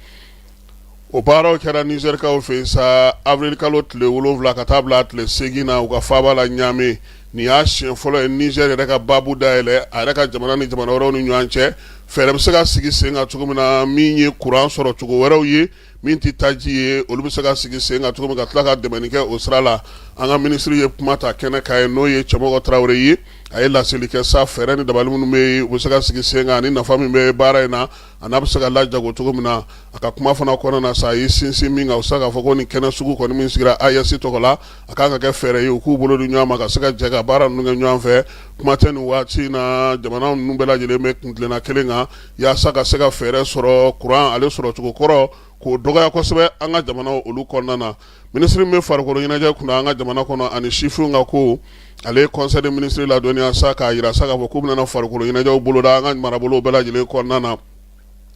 o baaraw kɛra nizɛrikaw fɛ sa awirilikalo tile wolowula ka taa bila a tile seegin na u ka faaba la ɲamɛ Nin y'a siɲɛ fɔlɔ ye Niger yɛrɛ ka baabu dayɛlɛ a yɛrɛ ka jamana ni jamana wɛrɛw ni ɲɔgɔn cɛ fɛɛrɛ bɛ se ka sigi sen kan cogo min na min ye kuran sɔrɔ cogo wɛrɛw ye min tɛ taji ye olu bɛ se ka sigi sen kan cogo min ka tila ka dɛmɛ kɛ o sira la an ka minisiri ye kuma ta kɛnɛ kan yen n'o ye cɛmɔgɔ tarawele ye a ye laseli kɛ sa fɛɛrɛ ni dabali minnu bɛ yen u bɛ se ka sigi sen kan ni nafa min bɛ baara in na a n'a bɛ se ka la jago cogo min na a ka kuma fana kɔnɔna na sa a ye sinsin min kan u se k'a fɔ ko nin kɛnɛ sugu kɔni min sigira AES tɔgɔ la a kan ka kɛ fɛɛrɛ ye u k'u bolo di ɲɔgɔn ma ka se ka jɛ ka baara ninnu kɛ ɲɔgɔn fɛ kuma tɛ nin waati in na jamana ninnu bɛɛ lajɛlen bɛ kuntilenna kelen kan yaasa ka se ka fɛɛrɛ sɔrɔ kuran ale sɔrɔ cogo kɔrɔ k'o dɔgɔya kosɛbɛ an ka jamanaw olu kɔnɔna na minisiri min bɛ farikolo ɲɛnajɛ kunna an ka jamana kɔnɔ ani sifinw ka ko ale ye conseil des ministres ladɔnniya sa k'a jira sa k'a fɔ k'u bɛna farikolo ɲɛnajɛw boloda an ka marabolo bɛɛ lajɛlen kɔnɔna na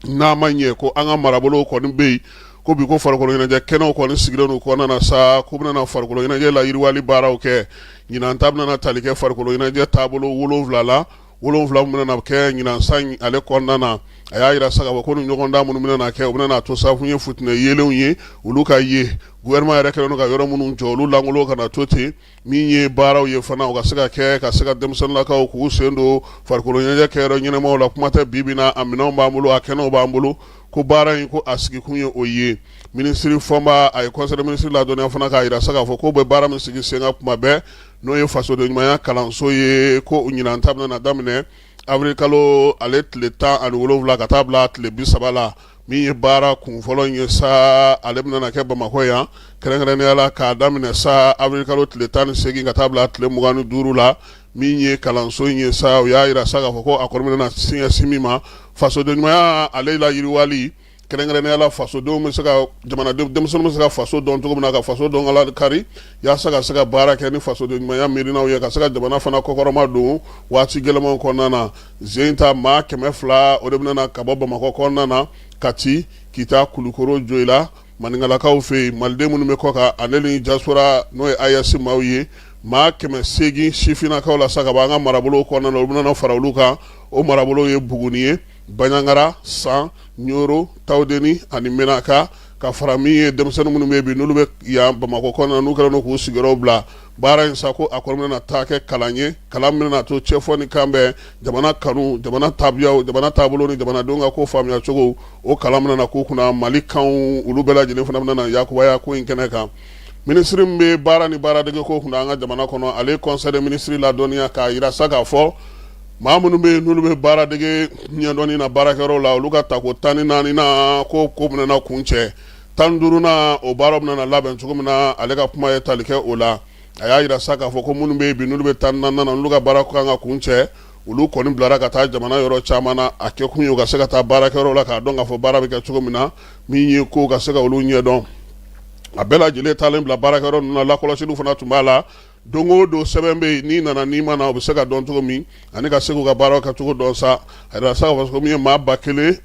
n'a ma ɲɛ ko an ka marabolo kɔni bɛ yen ko bi ko farikolo ɲɛnajɛ kɛnɛw kɔni sigilen don kɔnɔna na sa k'u bɛna farikolo ɲɛnajɛ la yiriwali baaraw kɛ ɲinan ta bɛna tali kɛ farikolo ɲɛnajɛ taabolo wolonwula la wolonwula min bɛna kɛ ɲinan san ale kɔnɔna na a y'a jira sa k'a fɔ ko ni ɲɔgɔndan minnu bɛna kɛ u bɛna to sabu ye fitinɛ yeelenw ye olu ka ye gouvernement yɛrɛ kɛlen ka yɔrɔ minnu jɔ olu langolo kana na to ten min ye baaraw ye fana u ka se ka kɛ ka se ka denmisɛnninlakaw k'u sen don farikolo ɲɛnajɛ kɛyɔrɔ ɲɛnamaw la kuma tɛ bi bi in na a minɛnw b'an bolo a kɛnɛw b'an bolo ko baara in ko a sigikun ye o ye minisiri fɔnba a ye conseil des ministres ladɔnniya fana k'a jira sa k'a fɔ k'o bɛ baara min sigi sen kan kuma bɛɛ n'o ye fasoden ɲumanya kalanso ye ko ɲinan ta bɛna daminɛ awirili kalo ale tile tan ani wolonwula ka taa bila tile bisaba la min ye baara kunfɔlɔ ye sa ale bɛna kɛ bamakɔ yan kɛrɛnkɛrɛnnenya la k'a daminɛ sa awirili kalo tile tan ni segin ka taa bila tile mugan ni duuru la min ye kalanso in ye sa u y'a jira sa k'a fɔ ko a kɔni bɛna ɲɛsin min ma fasoden ɲumanya ale la yiriwali kɛrɛnkɛrɛnnenya la fasodenw bɛ se ka jamana denmisɛnninw bɛ se ka faso dɔn cogo min na ka faso dɔn kari yaasa ka se ka baara kɛ ni fasoden ɲumanya miirina ye ka se ka jamana fana kɔkɔrɔma don waati gɛlɛnmanw kɔnɔna na zen ta maa kɛmɛ fila o de bɛna ka bɔ bamakɔ kɔnɔna na kati kita kulukoro joyila baninkɔlakaw fɛ yen maliden minnu bɛ kɔkan ale ni diaspora n'o ye AES maaw ye maa kɛmɛ segin sifinnakaw la sa ka bɔ an ka marabolo kɔnɔna na olu bɛna fara olu kan o marabolo ye buguni ye banjagara san ɲɔrɔ tawudeni ani menaka ka fara min ye denmisɛnnin minnu bɛ bi n'olu bɛ yan bamakɔ kɔnɔna n'u kɛlen k'u sigiyɔrɔ bila baara in sa ko a kɔni bɛna taa kɛ kalan ye kalan min bɛna to cɛfɔ ni kan bɛn jamana kanu jamana tabiyaw jamana taabolo ni jamanadenw ka ko faamuya cogo o kalan bɛna k'u kunna mali kanw olu bɛɛ lajɛlen fana bɛna na yakubaya ko in kɛnɛ kan minisiri min bɛ baara ni baaradege ko kunna an ka jamana kɔnɔ ale conseil des ministres ladɔnniya k'a jira sa k'a fɔ maa minnu bɛ yen n'olu bɛ baaradege ɲɛdɔnni na baarakɛyɔrɔ la olu ka tako tan ni naani na ko ko bɛna kuncɛ tan ni duurunan o baaraw bɛna labɛn cogo min na ale ka kuma ye tali kɛ o la a y'a jira sa k'a fɔ ko minnu bɛ yen bi n'olu bɛ tan ni naani na n'olu ka baara kan ka kun cɛ olu kɔni bilara ka taa jamana yɔrɔ caman na a kɛ kun ye u ka se ka taa baarakɛyɔrɔ la k'a dɔn k'a fɔ baara bɛ kɛ cogo min na min ye ko ka se ka olu ɲɛdɔn a bɛɛ lajɛlen taalen bila baarakɛyɔrɔ ninnu na lakɔlɔsiliw fana tun b'a la don o don sɛbɛn bɛ yen n'i nana n'i ma na o bɛ se ka dɔn cogo min ani ka se k'u ka baara kɛ cogo dɔn sa a jira sa k'a fɔ ko min ye maa ba kelen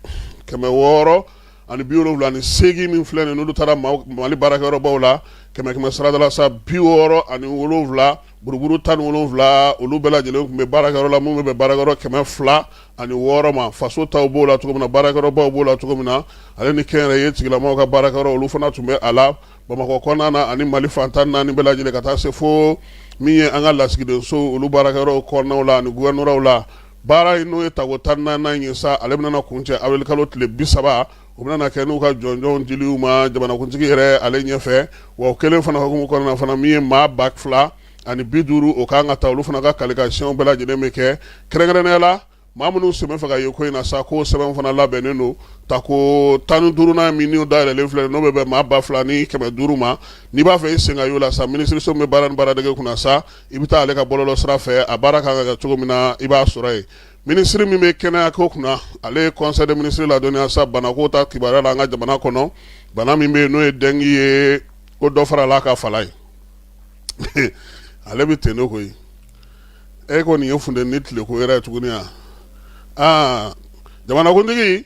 kɛmɛ wɔɔrɔ ani bi wolonwula ni seegin min filɛ nin n'olu taara mali baarakɛyɔrɔbaw la kɛmɛ kɛmɛ sarada la sa bi wɔɔrɔ ani wolonwula buruburu tan ni wolonwula olu bɛɛ lajɛlen tun bɛ baarakɛyɔrɔ la minnu bɛ baarakɛyɔrɔ kɛmɛ fila ani wɔɔrɔ ma faso taw b'o la cogo min na baarakɛyɔrɔbaw b'o la cogo min na ale ni kɛnyɛrɛye tigilamaw ka baarakɛyɔrɔ olu fana tun bɛ a la bamakɔ kɔnɔna na ani mali fan tan ni naani bɛɛ lajɛlen ka taa se fo min ye an ka lasigidenso olu baarakɛyɔrɔ kɔnɔnaw la ani gouvernoraw la baara in n'o ye tako tan ni naaninan ye sa ale bɛna kun cɛ awirili kalo tile bi saba o bɛna kɛ n'u ka jɔnjɔnw di u ma jamanakuntigi yɛrɛ ale ɲɛfɛ wa o kelen fana hukumu kɔnɔna fana min ye maa ba fila ani bi duuru o kan ka taa olu fana ka kalifikasiyɔnw bɛɛ lajɛlen bɛ kɛ kɛrɛnkɛrɛnnenya la maa minnu sen b'a fɛ ka ye ko in na sa ko sɛbɛn fana labɛnnen don tako tan ni duurunan min dayɛlɛlen filɛ n'o bɛ bɛn maa ba fila ni kɛmɛ duuru ma n'i b'a fɛ i sen ka y'o la sa minisiririso bɛ baara ni baaradege kunna sa i bɛ taa ale ka bɔlɔlɔ sira fɛ a baara kan ka kɛ cogo min na i b'a sɔrɔ yen minisiri min bɛ kɛnɛya ko kunna ale ye conseil des ministres ladɔnniya sa bana ko ta kibaruya la an ka jamana kɔnɔ bana min bɛ yen n'o ye dengi ye ko dɔ farala ka fala ye ale bɛ ten ne koyi e kɔni nin ye funteni tileko yɛrɛ ye tuguni aa jamanakuntigi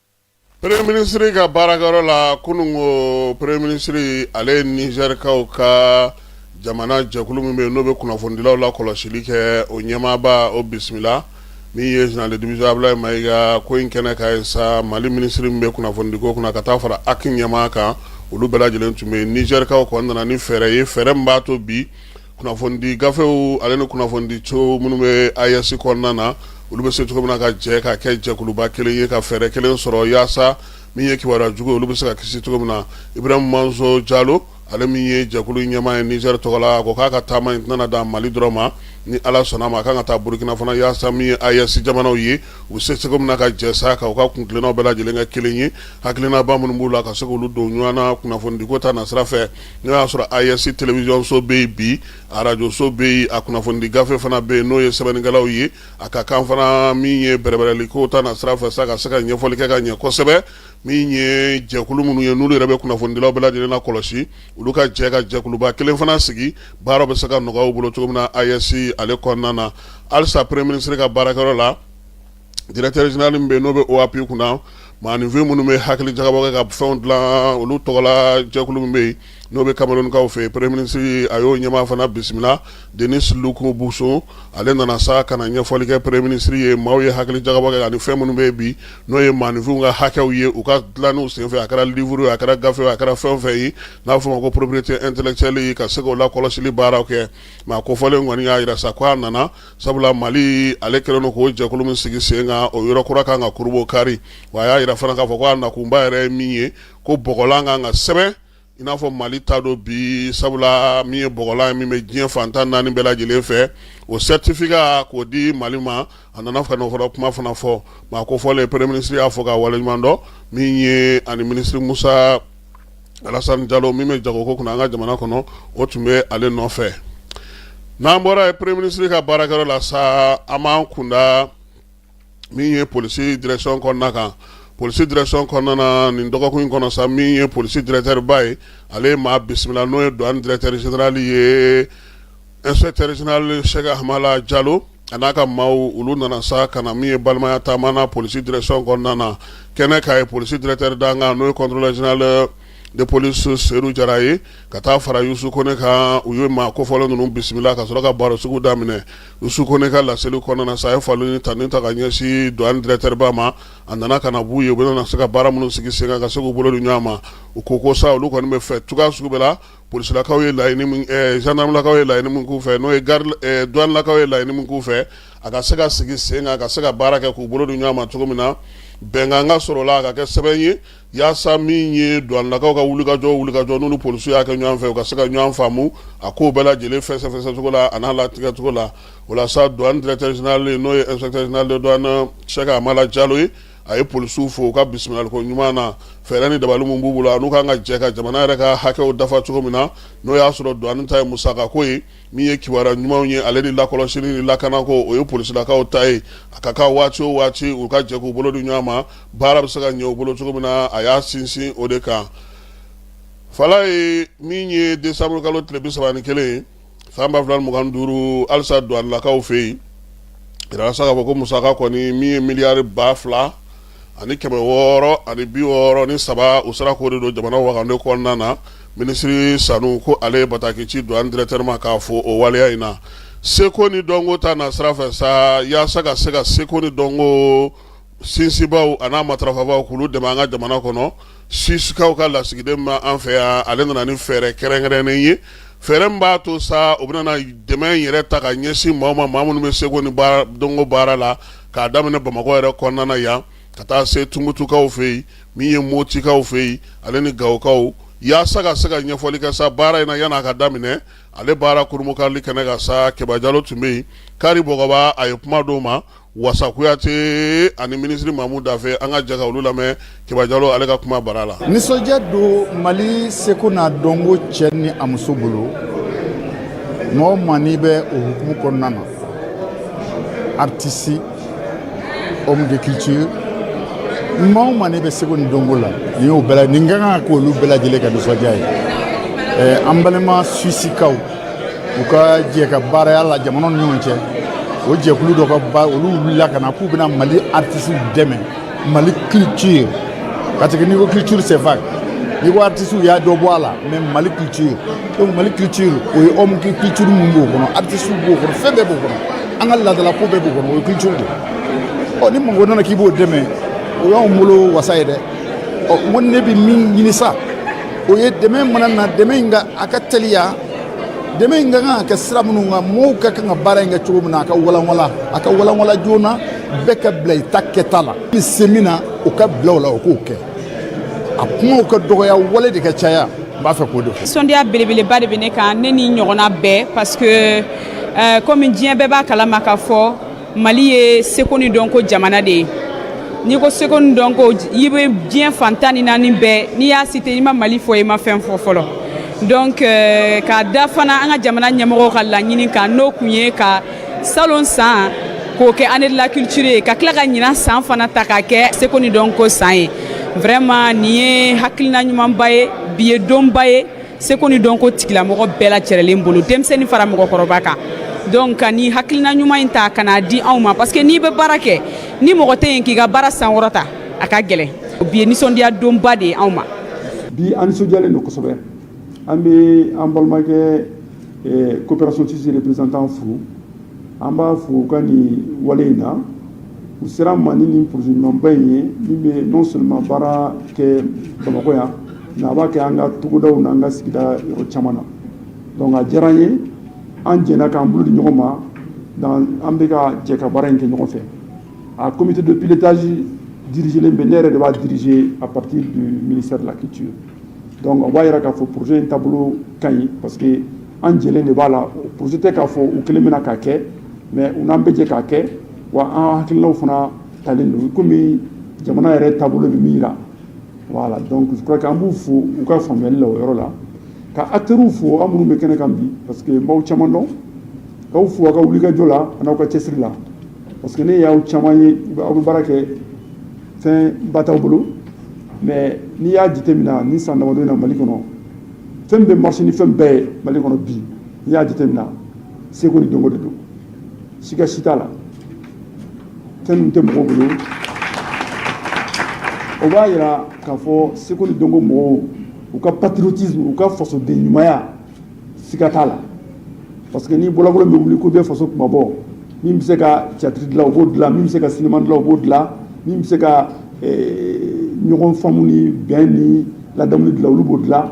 Premier ministre ka baarakɛyɔrɔ la kunun ko premier ministre ale ye nizɛrikaw ka jamana jɛkulu min bɛ yen n'o bɛ kunnafonidilaw lakɔlɔsili kɛ o ɲɛmaaba o bisimila min ye général de division abdoulaye mayiga ko in kɛnɛ kan yen sa mali minisiri min bɛ kunnafonidiko kunna ka taa fara aki ɲɛmaa kan olu bɛɛ lajɛlen tun bɛ yen nizɛrikaw kɔni nana ni fɛɛrɛ ye fɛɛrɛ min b'a to bi kunnafonidi gafew ale ni kunnafonidi co minnu bɛ AES kɔnɔna na olu bɛ se cogo min na ka jɛ ka kɛ jɛkuluba kelen ye ka fɛɛrɛ kelen sɔrɔ yaasa min ye kibaruya jugu olu bɛ se ka kisi cogo min na ibrahim manzo jalo ale min ye jɛkulu ɲɛmaa ye nizɛri tɔgɔ la ko k'a ka taama in tɛna dan mali dɔrɔn ma ni ala sɔnna ma a kan ka taa burukina fana yaasa min ye AES jamanaw ye u bɛ se cogo min na ka jɛ sa ka u ka kuntilennaw bɛɛ lajɛlen kɛ kelen ye hakilinaba minnu b'u la ka se k'olu don ɲɔgɔn na kunnafonidiko ta nasira fɛ n'o y'a sɔrɔ AES télévision so bɛ yen bi arajoso bɛ yen a kunnafonidi gafe fana bɛ yen n'o ye sɛbɛnnikɛlaw ye a ka kan fana min ye bɛrɛbɛrɛliko ta nasira fɛ sa ka se ka ɲɛfɔli kɛ ka ɲɛ kosɛbɛ min ye jɛkulu minnu ye n'olu yɛrɛ bɛ kunnafonidilaw bɛɛ lajɛlen nakɔlɔsi olu ka jɛ ka jɛkuluba kelen fana sigi baaraw bɛ se ka nɔgɔya u bolo cogo min na AES ale kɔnɔna na halisa premier ministre ka baarakɛyɔrɔ la directeur général min bɛ n'o bɛ OAPI kunna maaninfin minnu bɛ hakili jagabɔ kɛ ka fɛn dilan olu tɔgɔla jɛkulu min bɛ yen n'o bɛ kamerunkaw fɛ premier ministre a y'o ɲɛmaa fana bisimila denis loukou bohoussou ale nana sa ka na ɲɛfɔli kɛ premier ministre ye maaw ye hakili jagabɔ kɛ ani fɛn minnu bɛ bi n'o ye maaninfinw ka hakɛw ye u ka dilanw senfɛ a kɛra livre ye a kɛra gafe ye a kɛra fɛn o fɛn ye n'a bɛ fɔ a ma ko propriété intellectuelle ka se k'o lakɔlɔsili baaraw kɛ maa kofɔlen kɔni y'a jira sa ko a nana sabula mali ale kɛlen don k'o jɛkulu min sigi sen kan o yɔrɔ kura kan ka kurunbonkari wa a y'a yira fana k'a fɔ ko a nakunba yɛrɛ ye min ye ko bɔgɔlan kan ka sɛbɛn i n'a fɔ mali ta don bi sabula min ye bɔgɔlan ye min bɛ diɲɛ fan tan ni naani bɛɛ lajɛlen fɛ o certificat k'o di mali ma a nana ka n'o fana kuma fana fɔ maa kofɔlen premier ministre y'a fo k'a waleɲumandɔn min ye ani minisiri musa alasan jalo min bɛ jagoko kunna an ka jamana kɔnɔ o tun bɛ ale nɔfɛ n'an bɔra yen premier ministre ka baarakɛyɔrɔ la sa an b'an kunda min ye polisi direction kɔnɔna kan polisi direction kɔnɔna na nin dɔgɔkun in kɔnɔ sa min ye polisi directeur ba ye ale ye maa bisimila n'o ye duwani directeur général ye inspecteur général sɛki amala jalo a n'a ka maaw olu nana sa ka na min ye balimaya taama na polisi direction kɔnɔna na kɛnɛ ka ye polisi directeur dankan n'o ye contrôleur général de police seyidu jara ye ka taa fara yusufu kɔnɛ kan u ye maa kofɔlen ninnu bisimila ka sɔrɔ ka barosigi daminɛ yusufu kɔnɛ ka laseli kɔnɔna na sa a ye foli ni tanuni ta ka ɲɛsin duwani directeur ba ma a nana ka na b'u ye u bɛna se ka baara minnu sigi sen kan ka se k'u bolo di ɲɔgɔn ma u ko ko sa olu kɔni bɛ fɛ cogoya sugu bɛɛ la polisilakaw ye laɲini min zandaramalakaw ye laɲini min k'u fɛ n'o ye garidilakaw ye laɲini min k'u fɛ a ka se ka sigi sen kan ka se ka baara kɛ k'u bolo di ɲɔgɔn ma cogo min na bɛnkan ka sɔrɔ la ka kɛ sɛbɛn ye walasa min ye duwanilakaw ka wulikajɔ n'olu polisiw y'a kɛ ɲɔgɔn fɛ u ka se ka ɲɔgɔn faamu a kow bɛɛ lajɛlen fɛsɛfɛsɛcogo la a n'a latigɛcogo la o la sa duwani directeur général n'o ye inspecteur général de douane sɛki amala jalo ye a ye polisiw fo u ka bisimilaliko ɲuman na fɛɛrɛ ni dabali min b'u bolo a n'u kan ka jɛ ka jamana yɛrɛ ka hakɛw dafa cogo min na n'o y'a sɔrɔ duwani ta ye musakako ye min ye kibaruya ɲumanw ye ale ni lakɔlɔsili ni lakanako o ye polisilakaw ta ye a ka kan waati o waati u ka jɛ k'u bolo di ɲɔgɔn ma baara bɛ se ka ɲɛ u bolo cogo min na a y'a sinsin o de kan fala ye min ye desanburukalo tile bisaba ni kelen ye san ba fila ni mugan ni duuru halisa duwanilakaw fɛ yen jira sa k'a fɔ ko musaka kɔni min ye miliyari ba fila ani kɛmɛ wɔɔrɔ ani bi wɔɔrɔ ni saba u sera k'o de don jamana wagande kɔnɔna na minisiri sanu ko ale ye bataki ci douane directeur ma k'a fo o waleya in na seko ni dɔnko ta nasira fɛ sa yaasa ka se ka seko ni dɔnko sinsinbaaw a n'a matarafabaaw k'olu dɛmɛ an ka jamana kɔnɔ suisikaw ka lasigiden ma an fɛ yan ale nana ni fɛɛrɛ kɛrɛnkɛrɛnnen ye fɛɛrɛ min b'a to sa u bɛna dɛmɛ in yɛrɛ ta ka ɲɛsin maa ma maa minnu bɛ seko ni dɔnko baara la k'a daminɛ bamakɔ yɛrɛ kɔnɔna yan ka taa se tunbutukaw fɛ yen min ye motikaw fɛ yen ale ni gawokaw yaasa ka se ka ɲɛfɔli kɛ sa baara in na yan'a ka daminɛ ale baara kurunbonkarili kɛnɛ kan sa kɛba jalo tun bɛ yen kari bɔgɔba a ye kuma d'o ma wasa kuyate ani minisiri mamu dafe an ka jɛ ka olu lamɛn kɛba jalo ale ka kuma bara la nisɔndiya don mali seko n'a dɔnko cɛ ni a muso bolo maa o maa n'i bɛ o hukumu kɔnɔna na artisi homme de culture maa o maa n'i bɛ seko ni dɔnko la nin y'o bɛɛ la nin ka kan ka k'olu bɛɛ lajɛlen ka nisɔndiya ye an balima suisikaw u ka jɛ ka baaraya la jamana ni ɲɔgɔn cɛ o jɛkulu dɔ ka ba olu wulila ka na k'u bɛna mali artisiw dɛmɛ mali culture parce que n'i ko culture c'est vague n'i ko artisiw y'a dɔ bɔ a la mais mali culture donc mali culture o ye homme de culture min b'o kɔnɔ artisiw b'o kɔnɔ fɛn bɛɛ b'o kɔnɔ an ka laadala ko bɛɛ b'o kɔnɔ o ye culture de ye ɔ ni mɔgɔ nana k'i b'o dɛmɛ o y'anw bolo wasa ye dɛ ɔ n ko ne bɛ min ɲini sa o ye dɛmɛ mana na dɛmɛ in ka a ka teliya dɛmɛ in ka kan ka kɛ sira minnu kan mɔgɔw ka kan ka baara in kɛ cogo min na a ka walanwalan a ka walanwalan joona bɛɛ ka bila i ta kɛta la ni se min na o ka bila o la o k'o kɛ a kumaw ka dɔgɔya wale de ka caya n b'a fɛ k'o de fɔ nisɔndiya belebeleba de bɛ ne kan ne ni ɲɔgɔnna bɛɛ parce que euh, komi diɲɛ bɛɛ b'a kalama k'a fɔ mali ye seko ni dɔnko jamana de ye n'i ko seko ni dɔnko i bɛ diɲɛ fan tan ni naani bɛɛ n'i y'a cité i ma mali fɔ i ma fɛn fɔ fɔlɔ donc euh, k'a da fana an ka jamana ɲɛmɔgɔw ka laɲini kan n'o kun ye ka salon san k'o kɛ année de la culture ye ka tila ka ɲinan san fana ta k'a kɛ seko ni dɔnko san ye vraiment nin ye hakilina ɲumanba ye bi ye donba ye seko ni dɔnko tigilamɔgɔ bɛɛ lajɛrɛlen bolo denmisɛnnin fara mɔgɔkɔrɔba kan donc ka nin hakilina ɲuman in ta ka n'a di anw ma parce que n'i bɛ baara kɛ ni mɔgɔ tɛ yen k'i ka baara sankɔrɔta a ka gɛlɛn bi ye nisɔndiya donba de ye anw ma bi an nisɔndiyalen don kosɛbɛ an bɛ an balimakɛ eh, coopération suisse représentant fo an b'a fo u ka nin wale in na u sera an ma ni nin projet ɲumanba in ye min bɛ non seulement baara kɛ bamakɔ yan mais a b'a kɛ an ka togodaw n'an ka sigida yɔrɔ caman na donc a diyara an ye an jɛnna k'an bolo di ɲɔgɔn ma an bɛ ka jɛ ka baara in kɛ ɲɔgɔn fɛ a comité de pilotage dirigélen bɛ ne yɛrɛ de b'a diriger à partir du ministère de la culture donc o b'a jira k'a fɔ projet in taabolo ka ɲi parce que an jɛlen de b'a la projet tɛ k'a fɔ u kelen bɛna k'a kɛ mais u n'an bɛ jɛ k'a kɛ Wa an hakililaw fana talen don kɔmi jamana yɛrɛ taabolo bɛ min jira voilà donc je crois que an b'u fo u ka faamuyali la o yɔrɔ la ka acteurs fo an minnu bɛ kɛnɛ kan bi parce que n b'aw caman dɔn k'aw fo aw ka wulikajɔ la an'aw ka cɛsiri la parce que ne y'aw caman ye aw bɛ baara kɛ fɛn ba t'aw bolo mais n'i y'a jateminɛ nin san damadɔ in na mali kɔnɔ fɛn bɛ marcher ni fɛn bɛɛ ye mali kɔnɔ bi n'i y'a jateminɛ seko ni dɔnko de don siga si t'a la fɛn min tɛ mɔgɔ bolo o b'a jira k'a fɔ seko ni dɔnko mɔgɔw u ka patriotisme u ka fasoden ɲumanya siga t'a la parce que ni bɔlɔbɔlɔ bɛ wuli ko bɛ faso kunmabɔ min bɛ se ka tiyatiri dilan o b'o dilan min bɛ se ka sinima dilan o b'o dilan min bɛ se ka eh, ɲɔgɔn faamu ni bɛn ni ladamu dilan olu b'o dilan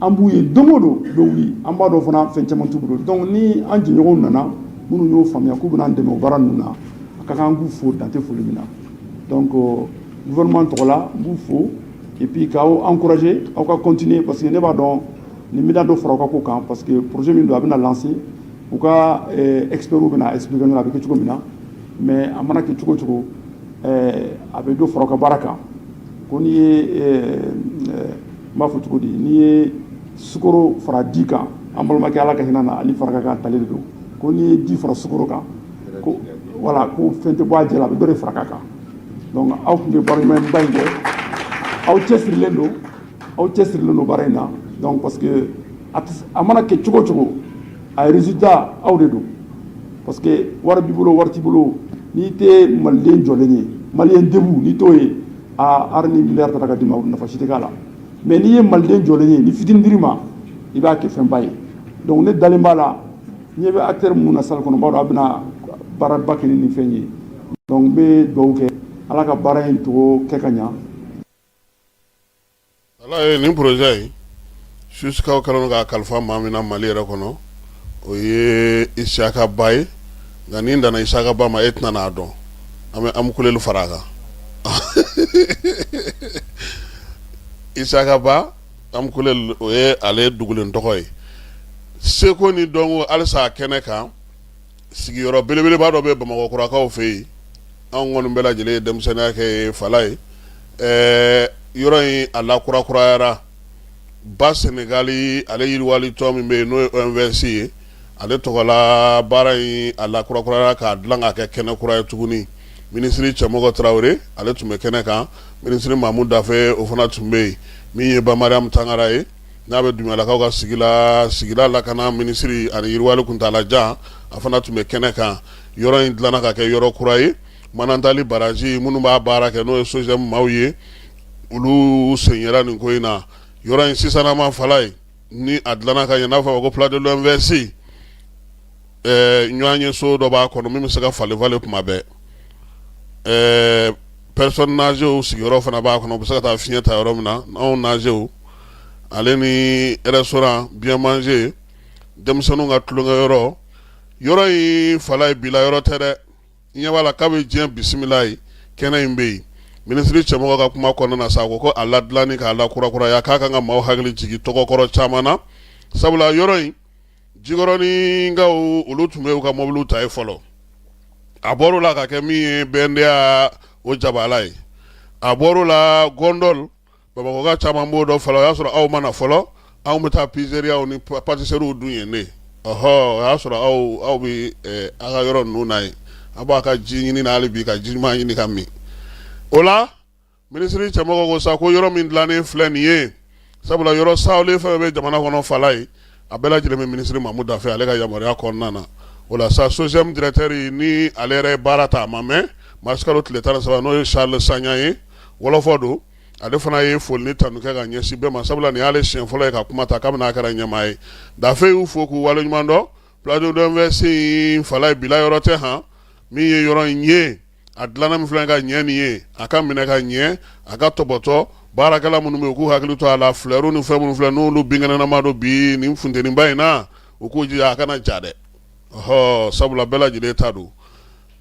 an b'u ye don o don u bɛ wuli an b'a dɔn fana fɛn caman t'u bolo donc ni an jɛɲɔgɔnw nana minnu y'o faamuya k'u bɛna an dɛmɛ baara ninnu na a ka kan an k'u fo dan tɛ foli min na donc gouvernement tɔgɔ la n b'u fo et puis k'aw encourager aw ka continuer parce que ne b'a dɔn nin bɛna dɔ fara aw ka ko kan parce que projet min don a bɛna lancer u ka experts bɛna expliquer a bɛ kɛ cogo min na mais a mana kɛ cogo o cogo a bɛ dɔ fara aw ka baara kan ko n'i ye n b'a fɔ cogo di n'i ye sukoro fara di kan an balimakɛ Ala ka hinɛ a la Ali Faraka ka ntalen de don ko n'i ye di fara sukoro kan ko voilà ko fɛn tɛ bɔ a diya la a bɛ dɔ de fara a kan donc aw tun bɛ baara ɲumanba in kɛ aw cɛsirilen don aw cɛsirilen don baara in na donc parce que a mana kɛ cogo o cogo a ye résultat aw de don parce que wari b'i bolo wari t'i bolo n'i tɛ maliden jɔlen ye malien debout n'i t'o ye hali ni miliyari tara ka d'i ma nafa si tɛ k'a la mais n'i ye maliden jɔlen ye ni fitinin dir'i ma i b'a kɛ fɛnba ye donc ne dalen b'a la n ɲɛ bɛ acteur minnu na salle kɔnɔ n b'a dɔn a bɛna baaraba kɛ ni nin fɛn ye donc n bɛ dugawu kɛ ala ka baara in tɔgɔ kɛ ka ɲa voilà nin projet in jusqu'à u kɛlen k'a kalifa maa min na mali yɛrɛ kɔnɔ o ye Isiyaka Ba ye nka ni n danna Isiyaka Ba ma e tɛna n'a dɔn an bɛ Amkoullel fara a kan Isiyaka Ba Amkoullel o ye ale dogolen tɔgɔ ye seko ni dɔnko halisa kɛnɛ kan sigiyɔrɔ belebeleba dɔ bɛ bamakɔkurakaw fɛ yen anw kɔni bɛɛ lajɛlen ye denmisɛnninya kɛ yen fala ye ɛɛ yɔrɔ in a lakurakurayara ba sɛnɛgali ale yiriwali tɔn min bɛ yen n'o ye OMVS ye ale tɔgɔla baara in a lakurakurayara k'a dilan k'a kɛ kɛnɛ kura ye tuguni minisiri Cɛmɔgɔ Tarawele ale tun bɛ kɛnɛ kan minisiri Mamu Dafe o fana tun bɛ yen min ye Ba Mariyamu Tangara ye n'a bɛ Dunbuyalakaw ka sigi la sigida lakana minisiri ani yiriwali kuntaalajan a fana tun bɛ kɛnɛ kan yɔrɔ in dilanna ka kɛ yɔrɔ kura ye Manantali baraji minnu b'a baara kɛ n'o ye SOGEM maaw ye olu sen yera nin ko in na yɔrɔ in sisannama fala ye ni a dilanna ka ɲɛ n'a bɛ fɔ a ma ko Place de l'OMVS ɛɛ ɲɔgɔnyeso dɔ b'a kɔnɔ min bɛ se ka falen falen kuma bɛɛ ɛɛ personnes âgéesw sigiyɔrɔ fana b'a kɔnɔ u bɛ se ka taa fiɲɛ ta yɔrɔ min na anw nazew ale ni restaurant bien manger denmisɛnninw ka tulonkɛ yɔrɔ yɔrɔ in fala ye bila yɔrɔ tɛ dɛ ɲɛ b'a la k'a bɛ diɲɛ bisimila ye kɛnɛ in bɛ yen minisiri Cɛmɔgɔ ka kuma kɔnɔna na sa a ko ko a ladilanni k'a lakurakuraya k'a kan ka maaw hakili jigin tɔgɔkɔrɔ caman na sabula yɔrɔ in jikɔrɔninkaw olu tun bɛ u ka mobiliw ta yen fɔlɔ a bɔr'o la ka kɛ min ye BNDA o jabala ye a bɔr'o la Gondole bamakɔka caman b'o dɔn fɔlɔ o y'a sɔrɔ aw ma na fɔlɔ anw bɛ taa pizzeriaw ni pâtisseriew dun yen dɛ ɔɔ o y'a sɔrɔ aw aw bɛ aw ka yɔrɔ ninnu na yen a b'a ka ji ɲinini na hali bi ka ji ɲuman ɲini ka min o la Minisiri Cɛmɔgɔ ko sa ko yɔrɔ min dilannen filɛ nin ye sabula yɔrɔ sa fɛn bɛ jamana kɔnɔ fala ye a bɛɛ lajɛlen bɛ minisiri Mamu Dafe ale ka yamaruya kɔnɔna na o la sa SOGEM directeur ni ale yɛrɛ baara ta a ma mɛɛn marisikalo tile tan ni saba n'o ye Charles Sagna ye wɔlɔfɔ don ale fana ye foli ni tanu kɛ ka ɲɛsin bɛɛ ma sabula nin y'ale sen fɔlɔ ye ka kuma ta kabini n'a kɛra ɲɛmaa ye Dafe y'u fo k'u wale ɲuman dɔn Place de l'OMVS fala ye bila yɔrɔ tɛ h min ye yɔrɔ in ye a dilanna min filɛ ka ɲɛ nin ye a ka minɛ ka ɲɛ a ka tɔpɔtɔ baarakɛla minnu bɛ yen u k'u hakili to a la flɛriw ni fɛn minnu filɛ n'olu binkɛnɛnaman don bi nin funteniba in na u k'u jija a kana ja dɛ ɔhɔ sabula bɛɛ lajɛlen ta don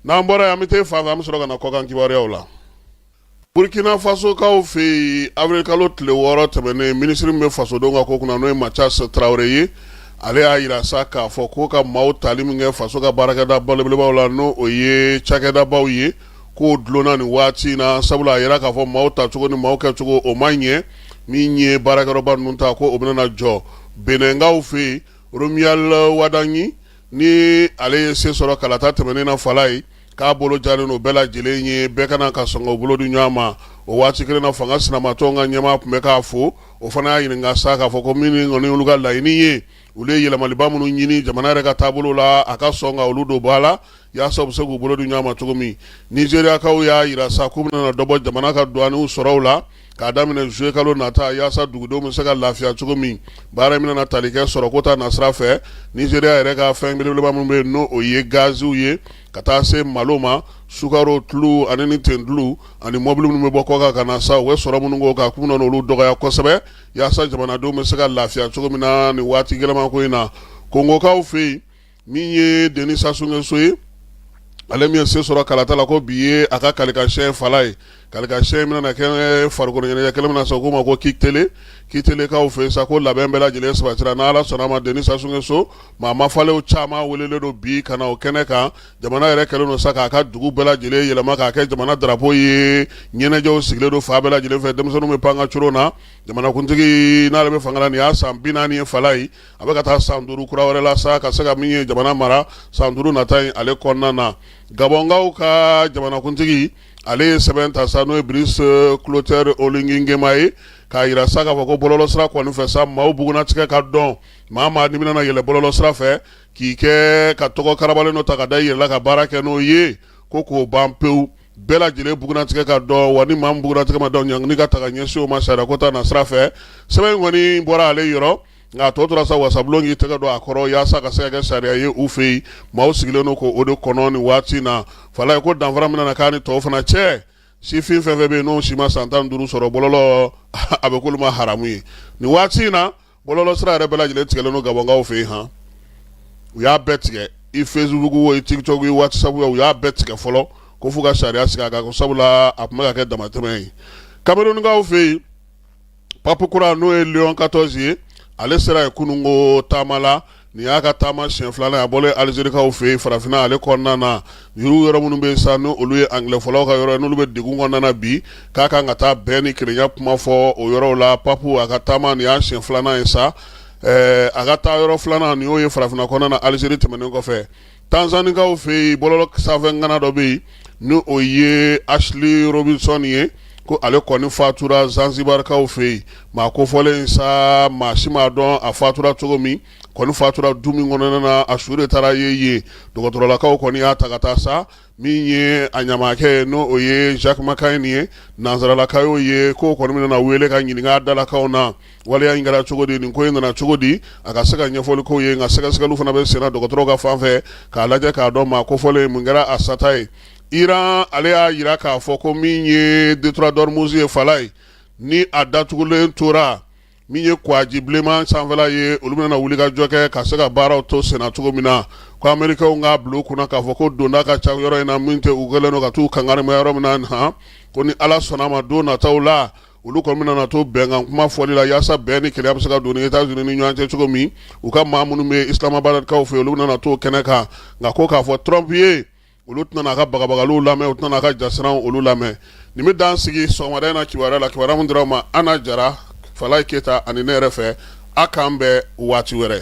n'an bɔra yan an bɛ taa fan fɛ an bɛ sɔrɔ ka na kɔkan kibaruyaw la Burkina fasokaw fɛ yen awirilikalo tile wɔɔrɔ tɛmɛnen minisiri min bɛ fasodenw ka ko kunna n'o ye Mathias Tarawele ye ale y'a jira sa k'a fɔ k'o ka maaw tali min kɛ faso ka baarakɛda belebelebaw la n'o ye cakɛdabaw ye k'o dulonna ni waati in na sabula a jira k'a fɔ maaw ta cogo ni maaw kɛ cogo o ma ɲɛ min ye baarakɛdaba ninnu ta ko o bɛna jɔ Benɛnkaw fɛ yen Romuald Wadagni ni ale ye se sɔrɔ kalata tɛmɛnen na fala ye k'a bolo jalen don bɛɛ lajɛlen ye bɛɛ ka na ka sɔn k'u bolo di ɲɔgɔn ma o waati kelen na fanga sinamatɔn ka ɲɛmaa tun bɛ k'a fo o fana y'a ɲininka sa k'a fɔ ko min kɔni olu ka laɲini ye olu ye yɛlɛmaliba minnu ɲini jamana yɛrɛ ka taabolo la a ka sɔn ka olu don ba la yaasa u bɛ se k'u bolo di ɲɔgɔn ma cogo min nizeriyakaw y'a jira sa k'u bɛna dɔ bɔ jamana ka douanew sɔrɔw la k'a daminɛ juillet kalo nata yaasa dugudenw bɛ se ka lafiya cogo min baara in bɛna tali kɛ sɔrɔko ta nasira fɛ Nizeriya yɛrɛ ka fɛn belebeleba min bɛ yen n'o ye gaziw ye ka taa se malo ma sukaro tulu ani ni tentulu ani mɔbili minnu bɛ bɔ kɔkan ka na sa u bɛ sɔrɔ minnu k'o kan k'u bɛna olu dɔgɔya kosɛbɛ yaasa jamanadenw bɛ se ka lafiya cogo min na nin waati gɛlɛman ko in na kongokaw fɛ yen min ye Denis Sassou Nguesso ye ale min se sɔrɔ kalata la ko bi ye a ka kalilikasɛ fa ye kalilikasɛ in bɛna kɛ farikoloɲɛnajɛ kɛnɛ min na sa k'o ma ko kintelekaw fɛ sa ko labɛn bɛɛ lajɛlen sabatira n' ala sɔnna a ma Denis Sassou Nguesso maa ma falenle caman welelen don bi ka na o kɛnɛ kan jamana yɛrɛ kɛlen don sa k'a ka dugu bɛɛ lajɛlen yɛlɛma k'a kɛ jamana darapo ye ɲɛnajɛw sigilen don fan bɛɛ lajɛlen fɛ denmisɛnninw bɛ pan ka cogo na jamanakuntigi n'ale bɛ fanga la nin y'a san bi naani ye fa ye a bɛ ka taa san duuru kura wɛrɛ la sa ka se ka min ye jamana mara san duuru nata ale kɔnɔna na gabɔnkaw ka jamanakuntigi ale ye sɛbɛn ta sa n'o ye Brice Clotaire Oligui Nguema ye k'a jira sa k'a fɔ ko bɔlɔlɔsira kɔni fɛ sa maaw bugunnatigɛ ka dɔn maa maa n'i bɛna yɛlɛn bɔlɔlɔsira fɛ k'i kɛ ka tɔgɔ karabalen dɔ ta ka da i yɛrɛ la ka baara kɛ n'o ye ko k'o ban pewu bɛɛ lajɛlen bugunnatigɛ ka dɔn wa ni maa min bugunnatigɛ ma dɔn ɲangili ka taga ɲɛsin o ma sariyako ta nasira fɛ sɛbɛn in kɔni bɔra ale yɔrɔ Nka a tɔ tora sa wasabulon k'i tɛgɛ don a kɔrɔ yaasa ka se ka sariya ye u fɛ yen maaw sigilen don ko o de kɔnɔ nin waati in na fa ye ko danfara min na k'a ni tɔw fana cɛ sifin fɛn fɛn bɛ yen n'o si ma san tan duuru sɔrɔ bɔlɔlɔ a bɛ k'olu ma haramu ye nin waati in na bɔlɔlɔsira yɛrɛ bɛɛ lajɛlen tigɛlen don gabɔnkaw fɛ yen hɔn u y'a bɛɛ tigɛ i Facebook wo i TikTok wo WhatsApp wo u y'a bɛɛ tigɛ fɔlɔ ko fo ka sariya sigi a kan sabula a tun bɛ ka kɛ damatɛmɛ ye kamerunkaw fɛ yen pap kura n'o ye leɔn quatorze ye ale sera ye kununko taama la nin y'a ka taama siyɛn filanan ye a bɔlen alizerikaw fɛ yen farafinna ale kɔnɔna na yɔrɔ yɔrɔ minnu bɛ sa n' olu ye angilɛfɔlaw ka yɔrɔ n'olu bɛ degun kɔnɔna na bi k'a kan ka taa bɛn ni kelenya kuma fɔ o yɔrɔ la pap a ka taama nin y'a siyɛn filanan ye sa a ka taa yɔrɔ filanan nin y'o ye farafinna kɔnɔna na alizeri tɛmɛnen kɔfɛ tanzanikaw fɛ yen bɔlɔlɔ sanfɛ ŋana dɔ bɛ yen ni o ye Ashly Robinson ye ko ale kɔni fatura zansibarikaw fɛ yen maa kofɔlen sa maa si m'a dɔn a fatura cogo min kɔni fatura du min kɔnɔna na a su de taara ye yen dɔgɔtɔrɔlakaw kɔni y'a ta ka taa sa min ye a ɲamakɛ ye n' o ye Jack McCann ye nansaralaka ye k'u kɔni bɛna a wele k'a ɲininka dalakaw na Waleya in kɛra cogo di nin ko in nana cogo di a ka se ka ɲɛfɔli k'o ye nka sɛgɛsɛgɛli fana bɛ sen na dɔgɔtɔrɔw ka fan fɛ k'a lajɛ k'a dɔn maa kofɔlen mun kɛra a sata ye Iran ale y'a jira k'a fɔ ko min ye Détroit d'Ormuz ye Falaye ni a datugulen tora min ye kɔgɔji bilenman sanfɛla ye olu bɛna wulikajɔ kɛ ka se ka baaraw to senna cogo min na ko amerikɛnw k'a bila u kunna k'a fɔ ko donda ka ca yɔrɔ in na min tɛ u kɛlen don ka t'u kangarima yɔrɔ min na han ko ni ala sɔnna a ma don nataw la olu kɔni bɛna na to bɛnkan kuma fɔli la yaasa bɛn ni kelenya bɛ se ka don ni États-Unis ni ɲɔgɔn cɛ cogo min u ka maa minnu bɛ Islamabadkaw fɛ olu bɛna na to kɛnɛ kan nka ko k'a fɔ Trump ye olu tɛna n'a ka bagabagaliw lamɛn u tɛna n'a ka jasiranw olu lamɛn nin bɛ dan sigi sɔgɔmada in na kibaruya la kibaruya min dira aw ma Ana Jara Falaye Keyita ani ne yɛrɛ fɛ a k'an bɛn waati wɛrɛ